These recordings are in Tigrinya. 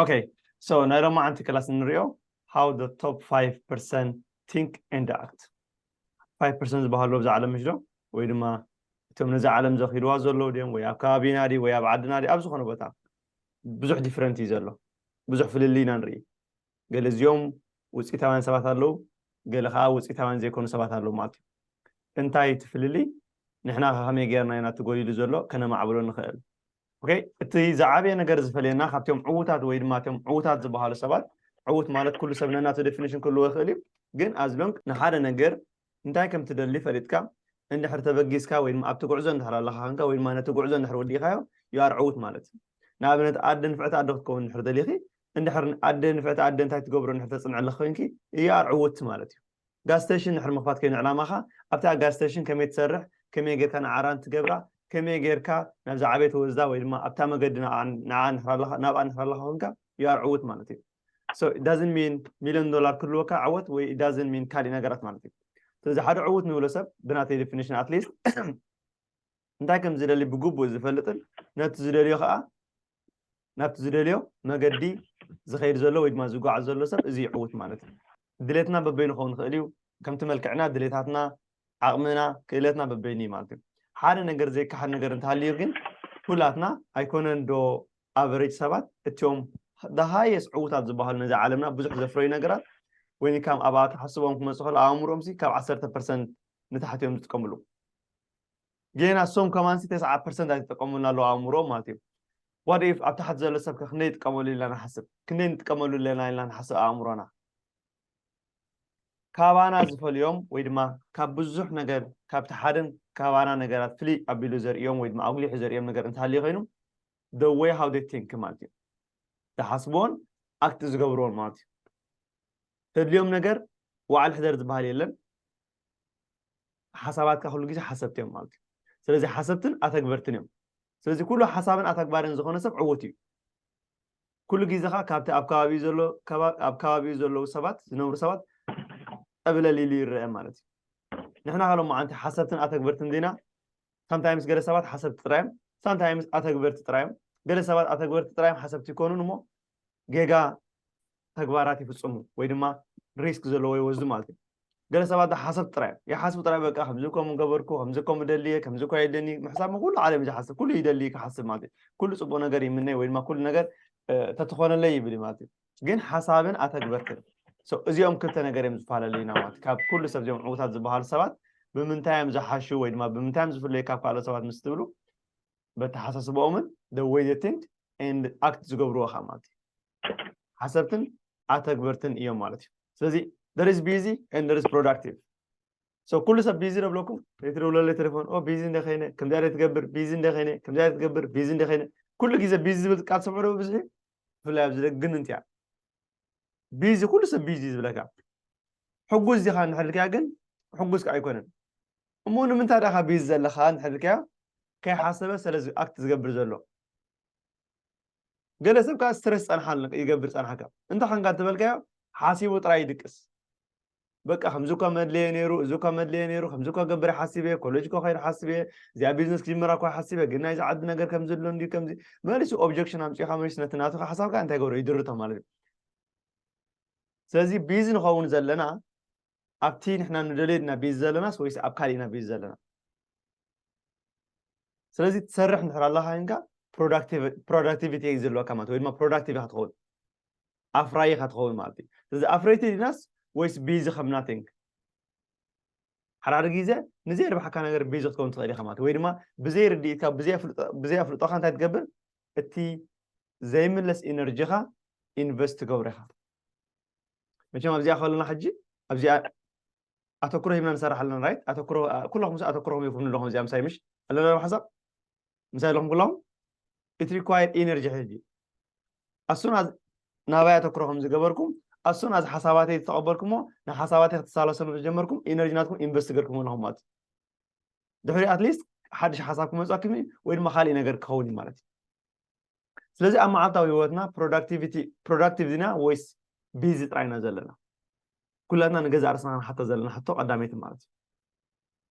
ኦከይ ሶ ናይ ሎማዓንቲ ክላስ ንሪኦ ሃው ዘ ቶፕ ፋይቭ ፐርሰንት ቲንክ ኤንድ ኣክት ፋይቭ ፐርሰንት ዝበሃሉ ኣብዛ ዓለም ምሽ ዶ ወይ ድማ እቶም ነዚ ዓለም ዘኺልዋ ዘለዉ ድዮም ወይ ኣብ ከባቢና ድዩ ወይ ኣብ ዓድና ድዩ ኣብ ዝኾነ ቦታ ብዙሕ ዲፍረንት እዩ ዘሎ ብዙሕ ፍልልይ ኢና ንርኢ ገለ እዚኦም ውፅኢታውያን ሰባት ኣለዉ ገለ ከዓ ውፅኢታውያን ዘይኮኑ ሰባት ኣለዉ ማለት እዩ እንታይ እቲ ፍልልይ ንሕና ከ ከመይ ጌርና ኢና እቲ ጎዲሉ ዘሎ ከነማዕብሎ ንኽእል ኦኬ እቲ ዝዓበየ ነገር ዝፈልየና ካብቶም ዕዉታት ወይ ድማ እቶም ዕዉታት ዝበሃሉ ሰባት ዕዉት ማለት ኩሉ ሰብ ነናቱ ዴፊኒሽን ክህልዎ ይኽእል እዩ ግን ኣዝሎንግ ንሓደ ነገር እንታይ ከም ትደሊ ፈሊጥካ እንድሕር ተበጊስካ ወይ ድማ ኣብቲ ጉዕዞ እንድሕር ኣለኻ ኮንካ ወይ ድማ ነቲ ጉዕዞ እንድሕር ወዲእካዮ ዩ ኣር ዕዉት ማለት እዩ ንኣብነት ኣደ ንፍዕቲ ኣደ ክትከውን እንድሕር ደሊኺ እንድሕር ኣደ ንፍዕቲ ኣደ እንታይ ትገብሮ እንድሕር ተፅንዕልኺ ኮንኪ ዩ ኣር ዕውት ማለት እዩ ጋዝ ስተሽን ድሕሪ ምኽፋት ከይኑ ዕላማኻ ኣብታ ጋዝ ስተሽን ከመይ ትሰርሕ ከመይ ጌርካ ንዓ ራን ትገብራ ከመይ ጌርካ ናብ ዝዓበየት ወዝዳ ወይ ድማ ኣብታ መገዲ ንዓ ንዓ ንሕራ ኣለኻ ናብኣ ንሕራ ኣለኻ ኮንካ you are ዕውት ማለት እዩ so it doesn't mean ሚልዮን ዶላር ክህልወካ ዕወት ወይ it doesn't mean ካሊእ ነገራት ማለት እዩ ስለዚ ሓደ ዕውት ንብሎ ሰብ ብናተይ ዲፊኒሽን ኣትሊስት እንታይ ከም ዝደሊ ብግቡእ ዝፈልጥን ነቲ ዝደልዮ ከዓ ናብቲ ዝደልዮ መገዲ ዝኸይድ ዘሎ ወይ ድማ ዝጓዓዝ ዘሎ ሰብ እዚ ይዕውት ማለት እዩ ድሌትና በበይኑ ክኸውን ይኽእል እዩ ከምቲ መልክዕና ድሌታትና ዓቕምና ክእለትና በበይኑ እዩ ማለት እዩ ሓደ ነገር ዘይከሓድ ነገር እንተሃልዩ ግን ኩላትና ኣይኮነን ዶ ኣቨሬጅ ሰባት እትዮም ዳሃየስ ዕውታት ዝበሃሉ ነዚ ዓለምና ብዙሕ ዘፍረዩ ነገራት ወይ ካም ኣብኣ ተሓስቦም ክመፅእ ከሎ ኣእምሮኦም ሲ ካብ ዓሰርተ ፐርሰንት ንታሕቲ እዮም ዝጥቀምሉ ጌና እሶም ከማንሲ ተስዓ ፐርሰንት ኣይተጠቀሙን ኣለዉ ኣእምሮኦም ማለት እዩ ዋት ኢፍ ኣብ ታሕቲ ዘሎ ሰብ ከ ክንደይ ይጥቀመሉ ኢልና ንሓስብ ክንደይ ንጥቀመሉ ኣለና ኢልና ንሓስብ ኣእምሮና ካባና ዝፈልዮም ወይ ድማ ካብ ብዙሕ ነገር ካብቲ ሓደን ካባና ነገራት ፍልይ ኣቢሉ ዘርእዮም ወይ ድማ ኣጉሊሑ ዘርእዮም ነገር እንተሃልዩ ኮይኑ the way how they think ማለት እዩ ዝሓስብዎን ኣክት ዝገብርዎን ማለት እዩ ተድልዮም ነገር ዋዕል ሕደር ዝበሃል የለን ሓሳባትካ ኩሉ ግዜ ሓሰብቲ እዮም ማለት እዩ ስለዚ ሓሰብትን ኣተግበርትን እዮም ስለዚ ኩሉ ሓሳብን ኣተግባርን ዝኾነ ሰብ ዕውት እዩ ኩሉ ግዜ ከዓ ካብቲ ኣብ ከባቢኡ ዘሎ ኣብ ከባቢኡ ዘለዉ ሰባት ዝነብሩ ሰባት ጠብለል ኢሉ ይረአ ማለት እዩ ንሕና ካሎ መዓንቲ ሓሰብትን ኣተግበርትን ዜና ሳምታይምስ ገለ ሰባት ሓሰብቲ ጥራዮም ሳምታይምስ ኣተግበርቲ ጥራዮም ገለ ሰባት ኣተግበርቲ ጥራዮም ሓሰብቲ ይኮኑን እሞ ጌጋ ተግባራት ይፍጽሙ ወይ ድማ ሪስክ ዘለዎ ይወስዱ ማለት እዩ ገለ ሰባት ሓሰብ ጥራይ ይሓስቡ ጥራይ በቃ ከምዚ ከምኡ ገበርኩ ከምዚ ከምኡ ደልየ ከምዚ እኳ የድልየኒ ምሕሳብ ኩሉ ዓለም እዩ ዝሓስብ ኩሉ ይደልይ ክሓስብ ማለት እዩ ኩሉ ፅቡቅ ነገር ይምነ ወይ ድማ ኩሉ ነገር ተትኾነለይ ይብል ማለት እዩ ግን ሓሳብን ኣተግበርትን እዚኦም ክልተ ነገር እዮም ዝፈላለዩና ማለት ካብ ኩሉ ሰብ እዚኦም ዕውታት ዝበሃሉ ሰባት ብምንታይ እዮም ዝሓሹ ወይ ድማ ብምንታይ እዮም ዝፍለዩ ካብ ካልኦት ሰባት ምስ ትብሉ በተሓሳስባኦምን the way they think and act ዝገብርዎ ከ ማለት እዩ ሓሰብትን ኣተግበርትን እዮም ማለት እዩ ስለዚ there is busy and there is productive so ኩሉ ሰብ ቢዚ ነብለኩም ትደውለለ ቴሌፎን ኦ ቢዚ እንደ ከይነ ከምዚኣ ደ ትገብር ቢዚ እንደ ከይነ ከምዚኣ ደ ትገብር ቢዚ እንደ ከይነ ኩሉ ግዜ ቢዚ ዝብል ቃል ትሰምዑ ዶ ብዝሒ ብፍላይ ኣብዚ ደግን እንትያ ቢዚ ኩሉ ሰብ ቢዚ ዝብለካ ሕጉዝ ዲኻ እንድሕር ኢልካያ ግን ሕጉዝ ከዓ ኣይኮነን እሞ ንምንታይ ዳካ ቢዚ ዘለካ እንድሕር ኢልካዮ ከይሓሰበ ሰለ ኣክት ዝገብር ዘሎ ገለ ሰብ ከኣ ስትረስ ጸንሓልኒ ይገብር ጸንሓካ እንታይ ኮንካ እንተበልካዮ ሓሲቡ ጥራይ ይድቅስ በቃ ከምዚ እኳ መድለየ ነይሩ እዚ እኳ መድለየ ነይሩ ከምዚ እኳ ገብረ ሓሲበ እየ ኮሌጅ እኳ ከይድ ሓሲበ እየ እዚኣ ቢዝነስ ክጅምራ እኳ ሓሲበ ግን ናይዚ ዓዲ ነገር ከምዚ ኣሎ እንዲ ከምዚ መሊሱ ኦብጀክሽን ኣምፂእካ መሊሱ ነቲ ናቱ ሓሳብካ እንታይ ገብሮ ይድርቶ ማለት እዩ ስለዚ ቢዚ ንኸውን ዘለና ኣብቲ ንሕና ንደልዮ ኢና ቢዚ ዘለናስ ወይስ ኣብ ካሊእ ኢና ቢዚ ዘለና ስለዚ ትሰርሕ እንድሕር ኣለካ ኮይንካ ፕሮዳክቲቪቲ እዩ ዘለወካ ማለት ወይ ድማ ፕሮዳክቲቭ ኢካ ትኸውን ኣፍራይ ኢካ ትኸውን ማለት እዩ ስለዚ ኣፍረይቲ ዲናስ ወይስ ቢዚ ከም ናቲንግ ሓዳር ግዜ ንዘይ ርብሓካ ነገር ቢዚ ክትከውን ትኽእል ኢኻ ማለት ወይ ድማ ብዘይ ርድኢትካ ብዘይ ኣፍልጦኻ እንታይ ትገብር እቲ ዘይምለስ ኢነርጂኻ ኢንቨስት ትገብሮ ኢኻ መቸም ኣብዚኣ ከለና ሕጂ ኣብዚኣ ኣተኩሮ ሂብና ንሰርሕ ኣለና ራይት ኣተኩሮ ኩለኹም ምስ ኣተኩሮኹም ይኹም ኣለኹም እዚኣ ምሳይ ምሽ ኣለና ሓሳብ ምሳይ ኣለኹም ኩለኹም ኢት ሪኳየር ኢነርጂ ሕጂ ኣሱን ናባይ ኣተኩሮ ከም ዝገበርኩም ኣሱን ኣዚ ሓሳባተይ ዝተቐበልኩሞ ንሓሳባተይ ክትሳለሰሉ ዝጀመርኩም ኢነርጂ ናትኩም ኢንቨስት ገርኩም ኣለኹም ማለት ድሕሪ ኣትሊስት ሓድሽ ሓሳብ ክመፅኣኩም እዩ ወይ ድማ ካልእ ነገር ክኸውን እዩ ማለት እዩ ስለዚ ኣብ መዓልታዊ ህይወትና ፕሮዳክቲቪቲ ፕሮዳክቲቭ ዲና ወይስ ቢዚ ጥራይ ኢና ዘለና ኩላትና ንገዛእ ርስና ክንሓቶ ዘለና ሕቶ ቀዳመይቲ ማለት እዩ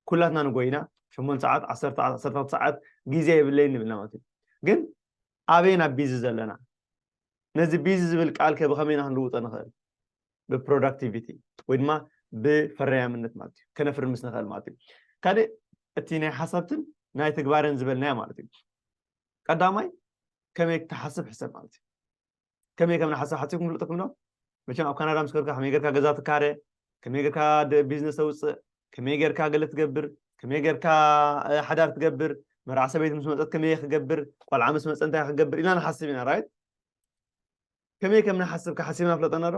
ኩላትና ንጎይና ሸሞንተ ሰዓት ዓሰርተ ሰዓት ዓሰርተ ክልተ ሰዓት ግዜ የብለይን ንብልና ማለት እዩ ግን ኣበይ ናብ ቢዚ ዘለና ነዚ ቢዚ ዝብል ቃል ከ ብኸመይ ኢና ክንልውጦ ንኽእል ብፕሮዳክቲቪቲ ወይ ድማ ብፈረያምነት ማለት እዩ ከነፍሪ ምስ ንኽእል ማለት እዩ ካልእ እቲ ናይ ሓሳብትን ናይ ተግባርን ዝበልናዮ ማለት እዩ ቀዳማይ ከመይ ክትሓስብ ሕሰብ ማለት እዩ ከመይ ከም ንሓስብ ሓሲብኩም ክፍልጠኩም ዶ መቸም ኣብ ካናዳ ምስ ከርካ ከመይ ጌርካ ገዛ ትካረ ከመይ ጌርካ ቢዝነስ ተውፅእ ከመይ ጌርካ ገለ ትገብር ከመይ ጌርካ ሓዳር ትገብር መርዓ ሰበይቲ ምስ መፀት ከመይ ክገብር ቆልዓ ምስ መፀ እንታይ ክገብር ኢልና ንሓስብ ኢና ራይት ከመይ ከም ንሓስብ ክሓሲብና ፍለጠና ዶ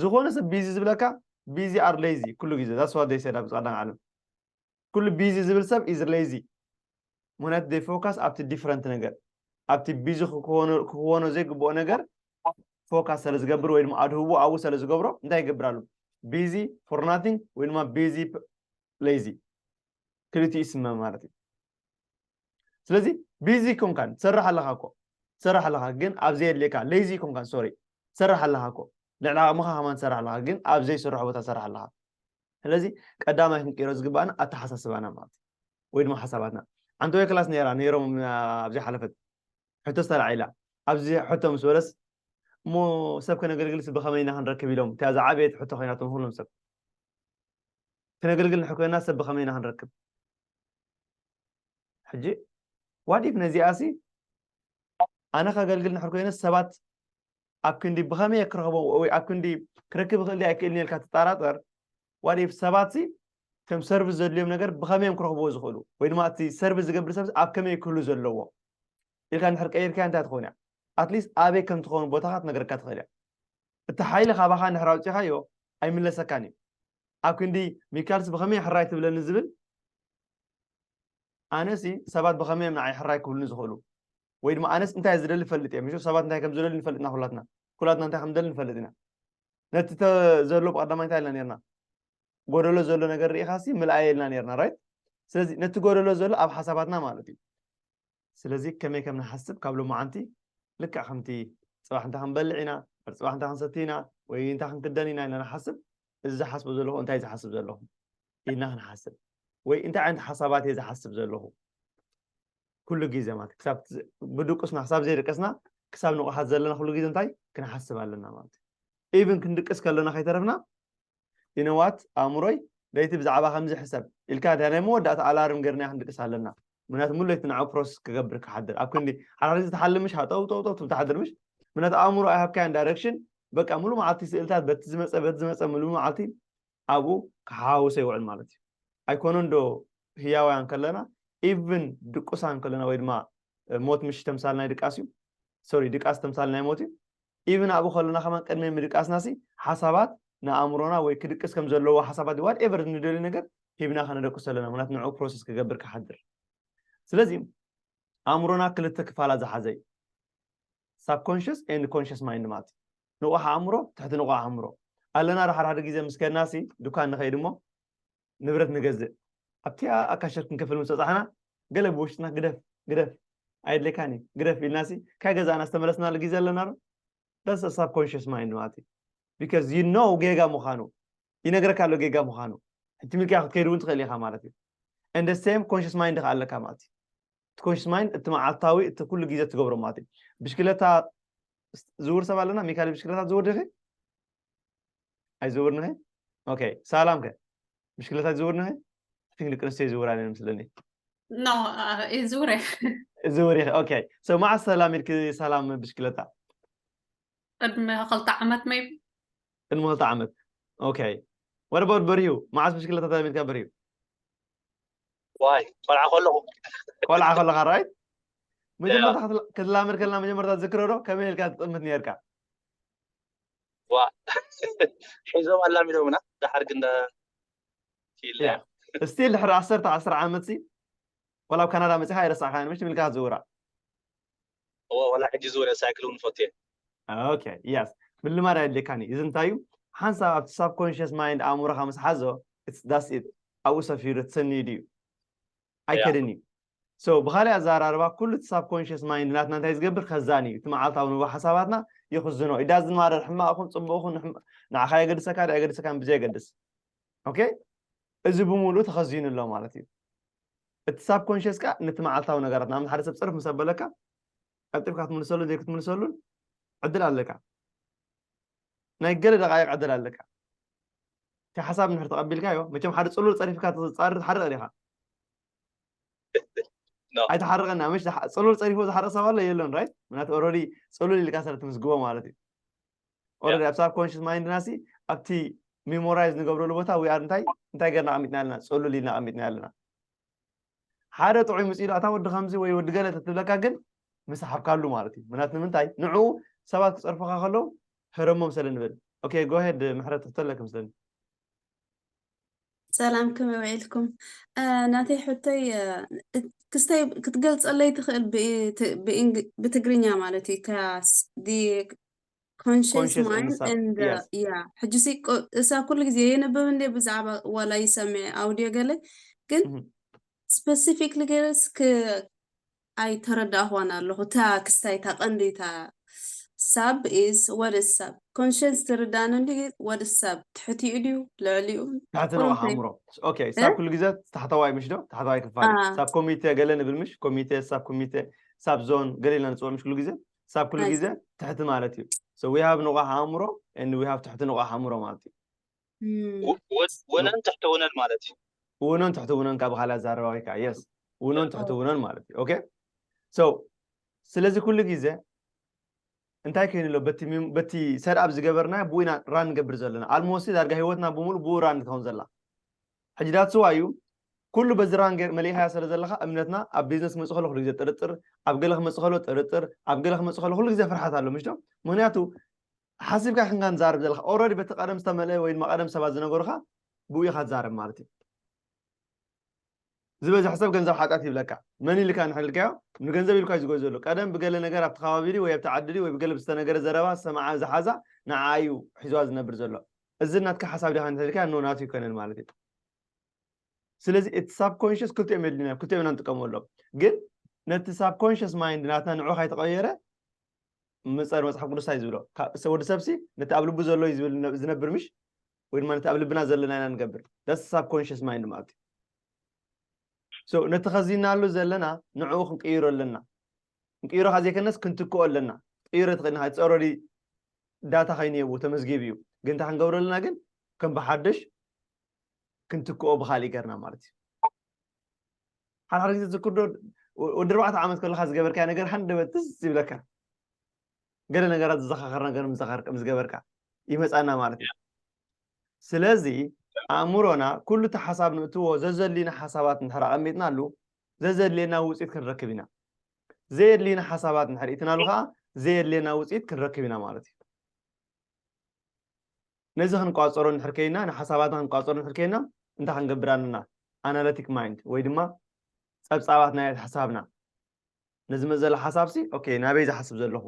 ዝኾነ ሰብ ቢዚ ዝብለካ ቢዚ ኣር ሌዚ ኩሉ ግዜ ዛትስ ዋት ዴይ ሰድ ኣብ ጻዕዳን ዓለም ኩሉ ቢዚ ዝብል ሰብ ኢዝ ሌዚ ምክንያቱ ዴይ ፎካስ ኣብቲ ዲፍረንት ነገር ኣብቲ ቢዚ ክክወኖ ዘይግብኦ ነገር ፎካስ ስለ ዝገብር ወይ ድማ ኣድህቦ ኣብኡ ስለ ዝገብሮ እንታይ ይገብር ኣሎ ቢዚ ፎር ናቲንግ ወይ ድማ ቢዚ ሌዚ ክልቲኡ ይስመ ማለት እዩ ስለዚ ቢዚ ኮንካን ትሰርሕ ኣለኻ እኮ ትሰርሕ ኣለኻ ግን ኣብ ዘየድልየካ ለይዚ ኮንካን ሶሪ ትሰርሕ ኣለኻ እኮ ልዕሊ ዓቕምኻ ከማን ትሰርሕ ኣለኻ ግን ኣብ ዘይስርሖ ቦታ ትሰርሕ ኣለኻ ስለዚ ቀዳማይ ክንቅይሮ ዝግባእና ኣተሓሳስባና ማለት እዩ ወይ ድማ ሓሳባትና ሓንቲ ወይ ክላስ ነይራ ነይሮም ኣብዘይ ሓለፈት ሕቶ ዝተላዒላ ኣብዚ ሕቶ ምስ በለስ እሞ ሰብ ከነገልግልስ ብኸመይ ኢና ክንረክብ ኢሎም እቲኣ ዝዓበየት ሕቶ ኮይናቶም ኩሎም ሰብ ክነገልግል ንሕኮይና ሰብ ብኸመይ ኢና ክንረክብ ሕጂ ዋት ኢፍ ነዚኣሲ ኣነ ከገልግል ንሕር ኮይነስ ሰባት ኣብ ክንዲ ብኸመይ እየ ክረኽቦ ወይ ኣብ ክንዲ ክረክብ ይኽእል ድያ ኣይክእልን ኢልካ ትጠራጠር ዋት ኢፍ ሰባት ሲ ከም ሰርቪስ ዘድልዮም ነገር ብኸመይ እዮም ክረኽብዎ ዝኽእሉ ወይ ድማ እቲ ሰርቪስ ዝገብር ሰብ ኣብ ከመይ ክህሉ ዘለዎ ኢልካ ንድሕር ቀይርካ እንታይ ትኸውን እያ ኣትሊስት ኣበይ ከም ትኸውን ቦታኻ ትነገረካ ትኽእል እያ እቲ ሓይሊ ካባኻ ንድሕር ኣውፂኻዮ ኣይምለሰካን እዩ ኣብ ክንዲ ሚካልስ ብኸመይ ሕራይ ትብለኒ ዝብል ኣነሲ ሰባት ብኸመይ እዮም ንዓይ ሕራይ ክብሉኒ ዝኽእሉ ወይ ድማ ኣነስ እንታይ ዝደሊ ፈልጥ እየ ምሽ ሰባት እንታይ ከም ዝደሊ ንፈልጥ ኢና ኩላትና ኩላትና እንታይ ከም ደሊ ንፈልጥ ኢና ነቲ ዘሎ ብቀዳማይ እንታይ ኢልና ነርና ጎደሎ ዘሎ ነገር ርኢኻሲ ምልኣየ ኢልና ነርና ራይት ስለዚ ነቲ ጎደሎ ዘሎ ኣብ ሓሳባትና ማለት እዩ ስለዚ ከመይ ከም ንሓስብ ካብ ሎማዓንቲ ልክዕ ከምቲ ጽባሕ እንታይ ክንበልዕ ኢና ድሕሪ ጽባሕ እንታይ ክንሰቲ ኢና ወይ እንታይ ክንክደን ኢና ኢልና ንሓስብ እዚ ዝሓስቦ ዘለኹ እንታይ እዩ ዝሓስብ ዘለኹ ኢልና ክንሓስብ ወይ እንታይ ዓይነት ሓሳባት እየ ዝሓስብ ዘለኹ ኩሉ ግዜ ማለት ክሳብ ብድቁስና ክሳብ ዘይደቀስና ክሳብ ንቑሓት ዘለና ኩሉ ግዜ እንታይ ክንሓስብ ኣለና ማለት እዩ ኢብን ክንድቅስ ከለና ከይተረፍና ይነዋት ኣእምሮይ ለይቲ ብዛዕባ ከምዚ ሕሰብ ኢልካ ድያ ናይ መወዳእታ ኣላርም ገርና ክንድቅስ ኣለና ምክንያቱ ሙሉ ለይቲ ንዕኡ ፕሮሰስ ክገብር ክሓድር ኣብ ክንዲ ሓራሪ ዝተሓልም ምሽ ሃጠው ጠው ጠው ትብል ትሓድር ምሽ ምክንያቱ ኣእምሮ ኣይሃብካያን ዳይረክሽን በቃ ሙሉ መዓልቲ ስእልታት በቲ ዝመፀ በቲ ዝመፀ ሙሉ መዓልቲ ኣብኡ ክሓዋውሰ ይውዕል ማለት እዩ ኣይኮነን ዶ ህያውያን ከለና ኢቭን ድቁሳን ከለና ወይ ድማ ሞት ምሽ ተምሳል ናይ ድቃስ እዩ ሶሪ ድቃስ ተምሳል ናይ ሞት እዩ ኢቭን ኣብኡ ከሎና ከማን ቅድሚ ምድቃስናሲ ሓሳባት ንኣእምሮና ወይ ክድቅስ ከም ዘለዎ ሓሳባት ድ ዋት ኤቨር ንደልዩ ነገር ሂብና ከነደቅሶ ኣለና ምክንያቱ ንዕኡ ፕሮሰስ ክገብር ክሓድር ስለዚ ኣእምሮና ክልተ ክፋላት ዝሓዘ እዩ ሳብኮንሽስ ኤንድ ኮንሽስ ማይንድ ማለት እዩ ንቑሕ ኣእምሮ ትሕቲ ንቑሕ ኣእምሮ ኣለና ዳሓዳሓደ ግዜ ምስ ከድናሲ ዱካን ንኸይድ እሞ ንብረት ንገዝእ። ኣብቲኣ ኣብ ካሸር ክንከፍል ምስ በጻሕና፣ ገለ ብውሽጥና ግደፍ! ግደፍ! ኣየድልየካን እዩ! ግደፍ! ኢልናሲ ካይ ገዛእና ዝተመለስናሉ ግዜ ኣለናዶ? That's a subconscious mind ማለት እዩ። Because you know ጌጋ ምዃኑ። ይነግረካ ኣሎ ጌጋ ምዃኑ። ሕጂ ሚልክያ ክትከይድ እውን ትኽእል ኢኻ ማለት እዩ። And the same conscious mind ከኣ ኣለካ ማለት እዩ። እቲ ኮንሽስ ማይንድ እቲ መዓልታዊ እቲ ኩሉ ግዜ ትገብሮ ማለት እዩ ብሽክለታ ዝውር ሰብ ኣለና ሚካኤል ብሽክለታ ዝውር ድኺ ኣይዝውር ንኺ ኦኬ ሳላም ከ ብሽክለታ ዝውር ንኺ ቲንክ ደቂ ኣንስትዮ ይዝውራ ነን ምስለኒ ዝውር ዝውር ኢኺ ኦኬ ሰው መዓስ ሰላም ኢልኪ ሰላም ብሽክለታ ቅድሚ ክልተ ዓመት መይ ቅድሚ ክልተ ዓመት ኦኬ ወደ ባት በሪሁ መዓስ ብሽክለታ ተላሚድካ በሪሁ ዋይ ቆልዓ ከለኹ ቆልዓ ከለኻ ራይ መጀመርታ ክትላመድ ከለና መጀመርታ ዝክረ ዶ ከመይ ኢልካ ትጥምት ነርካ ዋ ሒዞም ኣላሚዶምና ዳሓር ግን ስቲል ድሕሪ ዓሰርተ ዓስር ዓመት ሲ ወላ ኣብ ካናዳ መፅኻ ኣይረሳዕካን ምሽ ትብልካ ዝውራ እወ ዋላ ሕጂ ዝወረ ሳይክል እውን እፈቱ እየ። ኦኬ የስ ምልማድ ኣየድልየካን እዩ እዚ እንታይ እዩ ሓንሳብ ኣብቲ ሳብ ኮንሽስ ማይንድ ኣእምሮኻ ምስ ሓዞ ዳስ ኢት ኣብኡ ሰፊሩ ትሰንዩ ድዩ ኣይከድን እዩ ሶ ብካሊእ ኣዘራርባ ኩሉ እቲ ሳብ ኮንሽስ ማይንድ ናትና እንታይ ዝገብር ከዛን እዩ እቲ መዓልታዊ ንብ ሓሳባትና ይኽዝኖ ኢዳ ዝማረር ሕማቕ ኹን ፅቡቕ ኹን ንዓኻ የገድሰካ ዶ ኣይገድሰካን ብዘየገድስ ኦኬ እዚ ብምሉእ ተኸዚኑ ኣሎ ማለት እዩ እቲ ሳብኮንሽስ ከኣ ነቲ መዓልታዊ ነገራት ንኣብነት ሓደ ሰብ ጽርፍ ምስ ኣበለካ ቀልጢፍካ ክትምልሰሉን ዘይክትምልሰሉን ዕድል ኣለካ ናይ ገለ ደቃይቅ ዕድል ኣለካ እቲ ሓሳብ ንድሕር ተቐቢልካዮ መቸም ሓደ ጽሉል ጸሪፍካ ትጻርር ትሓርቕ ዲኻ ኣይተሓርቐና መሽ ጽሉል ጸሪፎ ዝሓርቕ ሰብ ኣሎ የለን ራይት ምክንያቱ ኦልሬዲ ጽሉል ኢልካ ስለ ትምዝግቦ ማለት እዩ ኦረዲ ኣብ ሳብ ኮንሽስ ማይንድና ሲ ኣብቲ ሚሞራይዝ ንገብረሉ ቦታ ዊኣር እንታይ እንታይ ገርና ኣሚጥና ኣለና ፀሉል ኢልና ኣሚጥና ኣለና ሓደ ጥዑይ ምስ ኢሉ ኣታ ወዲ ከምዚ ወይ ወዲ ገለ ተትብለካ ግን ምሰሓብካሉ ማለት እዩ ምክንያት ንምንታይ ንዕኡ ሰባት ክፀርፈካ ከለዉ ሕረሞም ስለ ንብል ኦኬ ጎሄድ ምሕረት ትሕተለክ ምስለኒ ሰላም ከመይ ውዒልኩም ናተይ ሕቶይ ክስተይ ክትገልፀለይ ትኽእል ብትግርኛ ማለት እዩ ኮንሸስ Conscious ማይንድ እንሳ ኤንድ yes ያ ሕጂሲ ቆ- እሳ ኩሉ ግዜ የንብብ እንደ ብዛዕባ ዋላ ይሰምዕ ኣውድዮ ገለ ግን እህ፣ ስፐሲፊክሊ ገለስ ክ ኣይተረዳእኳን ኣለኹ እታ ክስታይ እታ ቀንዲ እታ ሳብ ኢዝ ወደ ሳብ ኮንሸንስ ትርዳእኒ እንዲ ወደ ሳብ ትሕቲኡ ድዩ ልዕሊኡ ትሕቲ ነው ቁሩብ ከይ ኣእምሮ ኦኬ እ? ሳብ ኩሉ ግዜ ታሕተዋይ ምሽ ዶ ታሕተዋይ ክፋል እዩ አ ሳብ ኮሚቴ ገለ ንብል ምሽ ኮሚቴ ሳብ ኮሚቴ ሳብ ዞን ገለ ኢልና ንፅውዕ ምሽ ኩሉ ግዜ ክሳብ ኩሉ ግዜ ትሕቲ ማለት እዩ ሶ ዊ ሃቭ ንቑሕ ኣእምሮ ኤንድ ዊ ሃቭ ትሕቲ ንቑሕ ኣእምሮ ማለት እዩ ውነን ትሕቲ ውነን ማለት እዩ ውነን ትሕቲ ውነን ካብ ካልእ ኣዛረባ ወይ ከዓ የስ ውነን ትሕቲ ውነን ማለት እዩ ኦኬ ሶ ስለዚ ኩሉ ግዜ እንታይ ኮይኑ ኣሎ በቲ ሰድኣብ ዝገበርና ብኡ ኢና ራን ንገብር ዘለና ኣልሞሲ ዳርጋ ሂወትና ብምሉእ ብኡ ራን ትኸውን ዘላ ሕጂ ዳትስዋይ እዩ ኩሉ በዚ ራን ገር መሊእኻያ ሰለ ዘለኻ እምነትና ኣብ ቢዝነስ ክመጽእ ከሎ ኩሉ ግዜ ጥርጥር ኣብ ገለ ክመጽእ ከሎ ጥርጥር ኣብ ገለ ክመጽእ ከሎ ኩሉ ግዜ ፍርሓት ኣሎ ምሽዶ ምክንያቱ ሓሲብካ ይክንካ ንዛርብ ዘለካ ኦረዲ በቲ ቀደም ዝተመልአ ወይ ድማ ቀደም ሰባት ዝነገሩካ ብኡ ኢካ ትዛረብ ማለት እዩ ዝበዝሕ ሰብ ገንዘብ ሓጢኣት ይብለካ መን ኢልካ ንሕልካዮ ንገንዘብ ኢልካ እዩ ዝጎይ ዘሎ ቀደም ብገለ ነገር ኣብቲ ከባቢ ወይ ኣብቲ ዓዲ ወይ ብገለ ዝተነገረ ዘረባ ዝተሰማዓ ዝሓዛ ንዓኣ እዩ ሒዝዋ ዝነብር ዘሎ እዚ ናትካ ሓሳብ ዲካ እንተልካ ን ናቱ ኣይኮነን ማለት እዩ ስለዚ እቲ ሳብኮንሽስ ክልቲኦም የድልዩና ክልቲኦም ኢና ንጥቀመሎም ግን ነቲ ሳብኮንሽስ ማይንድ ናትና ንዑ ካይተቐየረ ምፀር መፅሓፍ ቅዱስ እንታይ ዝብሎ ወዲ ሰብሲ ነቲ ኣብ ልቡ ዘሎ እዩ ዝነብር ምሽ ወይ ድማ ነቲ ኣብ ልብና ዘለና ኢና ንገብር ዳስ ሳብኮንሽስ ማይንድ ማለት እዩ ነቲ ከዚናሉ ዘለና ንዕኡ ክንቅይሮ ኣለና ንቅይሮ ካብ ዘይከነስ ክንትክኦ ኣለና ክትቅይሮ ትክእል ኢካ ጸሮሊ ዳታ ከይኑ የብኡ ተመዝጊቡ እዩ ግን እንታይ ክንገብሮ ኣለና ግን ከም ብሓደሽ ክንትክኦ ብካሊእ ገርና ማለት እዩ ሓድሓደ ግዜ ዝክርዶ ወዲ ኣርባዕተ ዓመት ከለካ ዝገበርካዮ ነገር ሃንደበት ትዝ ይብለካ ገለ ነገራት ዝዘኻኸር ነገር ምስ ገበርካ ይመፃና ማለት እዩ ስለዚ ኣእምሮና ኩሉ እቲ ሓሳብ ንእትዎ ዘዘድልዩና ሓሳባት እንድሕር ኣቐሚጥናሉ ዘዘድልየና ውፅኢት ክንረክብ ኢና። ዘየድልዩና ሓሳባት እንድሕር ኢትናሉ ከዓ ዘየድልየና ውፅኢት ክንረክብ ኢና ማለት እዩ። ነዚ ክንቋፀሮ እንድሕር ከይና ንሓሳባትና ክንቋፀሮ እንድሕር ከይና እንታይ ክንገብር ኣለና ኣናለቲክ ማይንድ ወይ ድማ ፀብፃባት ናይ ሓሳብና ነዚ መዘለ ሓሳብሲ ኦኬ ናበይ ዝሓስብ ዘለኹ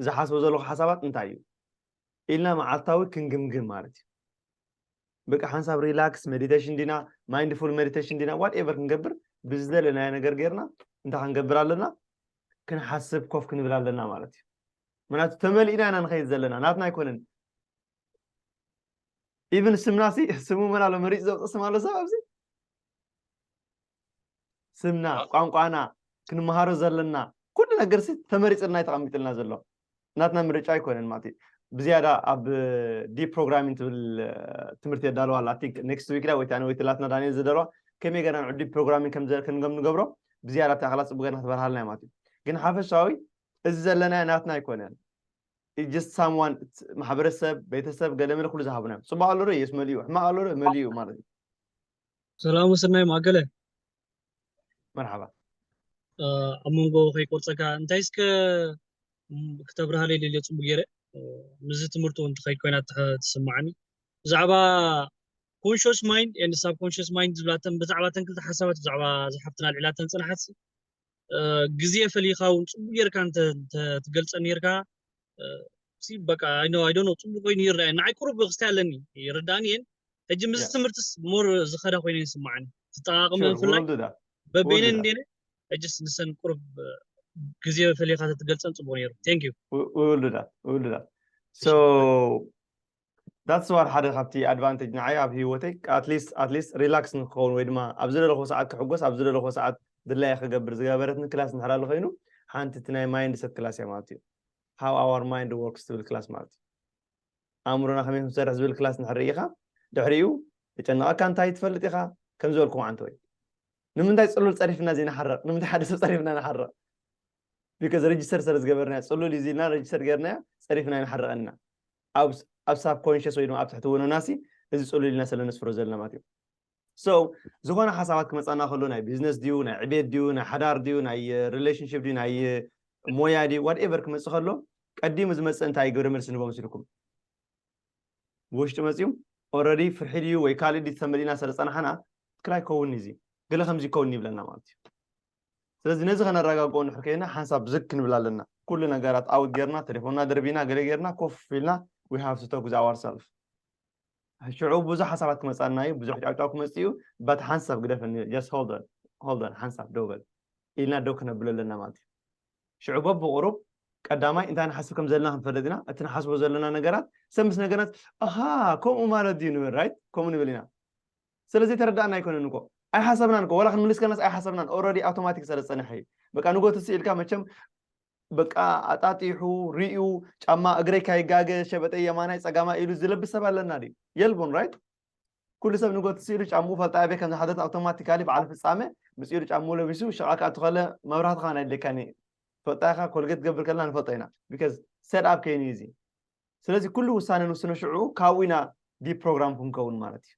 ዝሓስቦ ዘለኹ ሓሳባት እንታይ እዩ ኢልና መዓልታዊ ክንግምግም ማለት እዩ። በቃ ሓንሳብ ሪላክስ መዲቴሽን ዲና ማይንድፉል መዲቴሽን ዲና ዋት ኤቨር ክንገብር ብዝደለናዮ ነገር ጌርና እንታይ ክንገብር ኣለና ክንሓስብ ኮፍ ክንብል ኣለና ማለት እዩ ምክንያቱ ተመሊእና ኢና ንኸይድ ዘለና ናትና ኣይኮነን ኢብን ስምና ሲ ስሙ መን ኣሎ መሪፅ ዘውፅእ ስም ኣሎ ሰብ ኣብዚ ስምና ቋንቋና ክንምሃሮ ዘለና ኩሉ ነገር ሲ ተመሪፅልና እዩ ተቐሚጥልና ዘሎ ናትና ምርጫ ኣይኮነን ማለት እዩ ብዝያዳ ኣብ ዲ ፕሮግራሚን ትብል ትምህርቲ የዳለዋ ኣላ ቲንክ ኔክስት ዊክ ዳ ወይታ ወይ ትላትና ዳንኤል ዝደለዋ ከመይ ገና ንዑዲ ፕሮግራሚን ከምከም ንገብሮ ብዝያዳ እቲ ኣኽላ ፅቡቅ ገና ክትበርሃልና እዩ ማለት እዩ ግን ሓፈሻዊ እዚ ዘለና ናትና ኣይኮነን ጀስት ሳምዋን ማሕበረሰብ ቤተሰብ ገለመለ ኩሉ ዝሃቡና እዮም ፅቡቅ ኣሎ ዶ የስ መሊኡ ሕማቅ ኣሎ ዶ መሊኡ ማለት እዩ ሰላም ወሰናይ ማገለ መርሓባ ኣብ መንጎ ከይቆርፀካ እንታይ እስከ ክተብርሃለይ ደልዮ ፅቡቅ ገይረ ምስዚ ትምህርቲ እውን ትኸይድ ኮይና ትስማዓኒ ብዛዕባ ኮንሽስ ማይንድ ኤንድ ሳብ ኮንሽስ ማይንድ ዝብላተን ብዛዕባ ተን ክልተ ሓሳባት ብዛዕባ ዝሓፍትና ኣልዒላተን ፅናሓት ግዜ ፈሊኻ እውን ፅቡቅ ጌርካ እንተትገልፀ ኔርካ ሲ በቃ ኣይኖ ኣይዶ ነው ፅቡቅ ኮይኑ ይረኣየ ንዓይ ቁሩብ ክስታይ ኣለኒ ይርዳእኒ እየን ሕጂ ምስ ትምህርትስ ሞር ዝኸዳ ኮይኑ ይስማዓኒ ትጠቃቅመ ብፍላይ በበይነን እንዴነ ሕጅስ ንሰን ቁሩብ ግዜ ፈሊኻ ተትገልፀን ፅቡቅ ነይሩ ቴንክ ዩ ውልዳት ውልዳት ሶ ዳትስ ዋር ሓደ ካብቲ ኣድቫንቴጅ ንዓይ ኣብ ህይወተይ ኣትሊስት ኣትሊስት ሪላክስ ንክኸውን ወይ ድማ ኣብ ዝደለኹዎ ሰዓት ክሕጎስ ኣብ ዝደለኹዎ ሰዓት ድላየ ክገብር ዝገበረትኒ ክላስ እንድሕር ኣሎ ኮይኑ ሓንቲ እቲ ናይ ማይንድ ሰት ክላስ እያ ማለት እዩ ሃው ኣዋር ማይንድ ወርክስ ትብል ክላስ ማለት እዩ ኣእምሮና ከመይ ክንሰርሕ ዝብል ክላስ እንድሕር ርኢኻ ድሕሪኡ ተጨነቐካ እንታይ ትፈልጥ ኢኻ ከም ዝበልኩም ዓንተ ወይ ንምንታይ ፅሉል ፀሪፍና እዚ ንሓረቕ ንምንታይ ሓደ ሰብ ፀሪፍና ንሓረቕ ቢከዝ ረጅስተር ስለ ዝገበርናዮ ፅሉል እዩ ዝልና ረጅስተር ገርናዮ ፀሪፍና ንሓረቐና ኣብ ኣብ ሳብ ኮንሽስ ወይ ድማ ኣብ ትሕቲ ወነናሲ እዚ ጽሉል ኢልና ስለ ነስፍሮ ዘለና ማለት እዩ ሶ ዝኾነ ሓሳባት ክመጻና ከሎ ናይ ቢዝነስ ድዩ ናይ ዕቤት ድዩ ናይ ሓዳር ድዩ ናይ ሪሌሽንሽፕ ድዩ ናይ ሞያ ድዩ ዋትኤቨር ክመጽእ ከሎ ቀዲሙ ዝመጽእ እንታይ ግብረ መልሲ ንቦ መስልኩም ብውሽጢ መፅዩ ኦረዲ ፍርሒ ድዩ ወይ ካልእ ድዩ ተመሊእና ስለ ፀናሕና ትክክል ኣይከውን እዚ ገለ ከምዚ ይከውን ይብለና ማለት እዩ ስለዚ ነዚ ከነራጋግኦ እንድሕር ከይና ሓንሳብ ዝግ ክንብል ኣለና ኩሉ ነገራት ኣውት ገርና ተሌፎንና ደርቢና ገለ ገርና ኮፍ ኢልና we have to talk with ourself ሽዑ ብዙሕ ሓሳባት ክመጻና እዩ ብዙሕ ጫውጫው ክመጽእ እዩ ባት ሓንሳብ ግደፈኒ just hold on hold on ሓንሳብ ደው በል ኢልና ደው ክነብሎ ኣለና ማለት እዩ ሽዑ በብቑሩብ ቀዳማይ እንታይ ንሓስብ ከም ዘለና ክንፈልጥ ኢና እቲ ንሓስቦ ዘለና ነገራት ሰብ ምስ ነገራት ኣሃ ከምኡ ማለት ድዩ ንብል ራይት ከምኡ ንብል ኢና ስለ ዘይተረዳኣና ኣይኮነን እኮ ኣይሓሰብናን እኮ ዋላ ክንምልስ ከለናስ ኣይሓሰብናን ኦረዲ ኣውቶማቲክ ስለ ዝጸንሐ እዩ በቃ ንጎ ትስእ ኢልካ መቸም በቃ ኣጣጢሑ ሪኡ ጫማ እግረይ ካይጋገ ሸበጠይ የማናይ ጸጋማይ ኢሉ ዝለብስ ሰብ ኣለና ድዩ የልቦን ራይት ኩሉ ሰብ ንጎ ትስእ ኢሉ ጫምኡ ፈልጣ ኣበይ ከም ዝሓደት ኣውቶማቲካሊ በዓል ፍጻመ ምስ ኢሉ ጫምኡ ለቢሱ ሸቃ ክኣቱ ከለ መብራህቲ ከኣ ናይ ደካኒ ፈልጣ ኢኻ ኮልጌት ትገብር ከለና ንፈልጦ ኢና ቢካዝ ሰድ ኣብ ከይኑ እዩ እዚ ስለዚ ኩሉ ውሳነ ንውስነ ሽዑ ካብኡ ኢና ዲፕሮግራም ክንከውን ማለት እዩ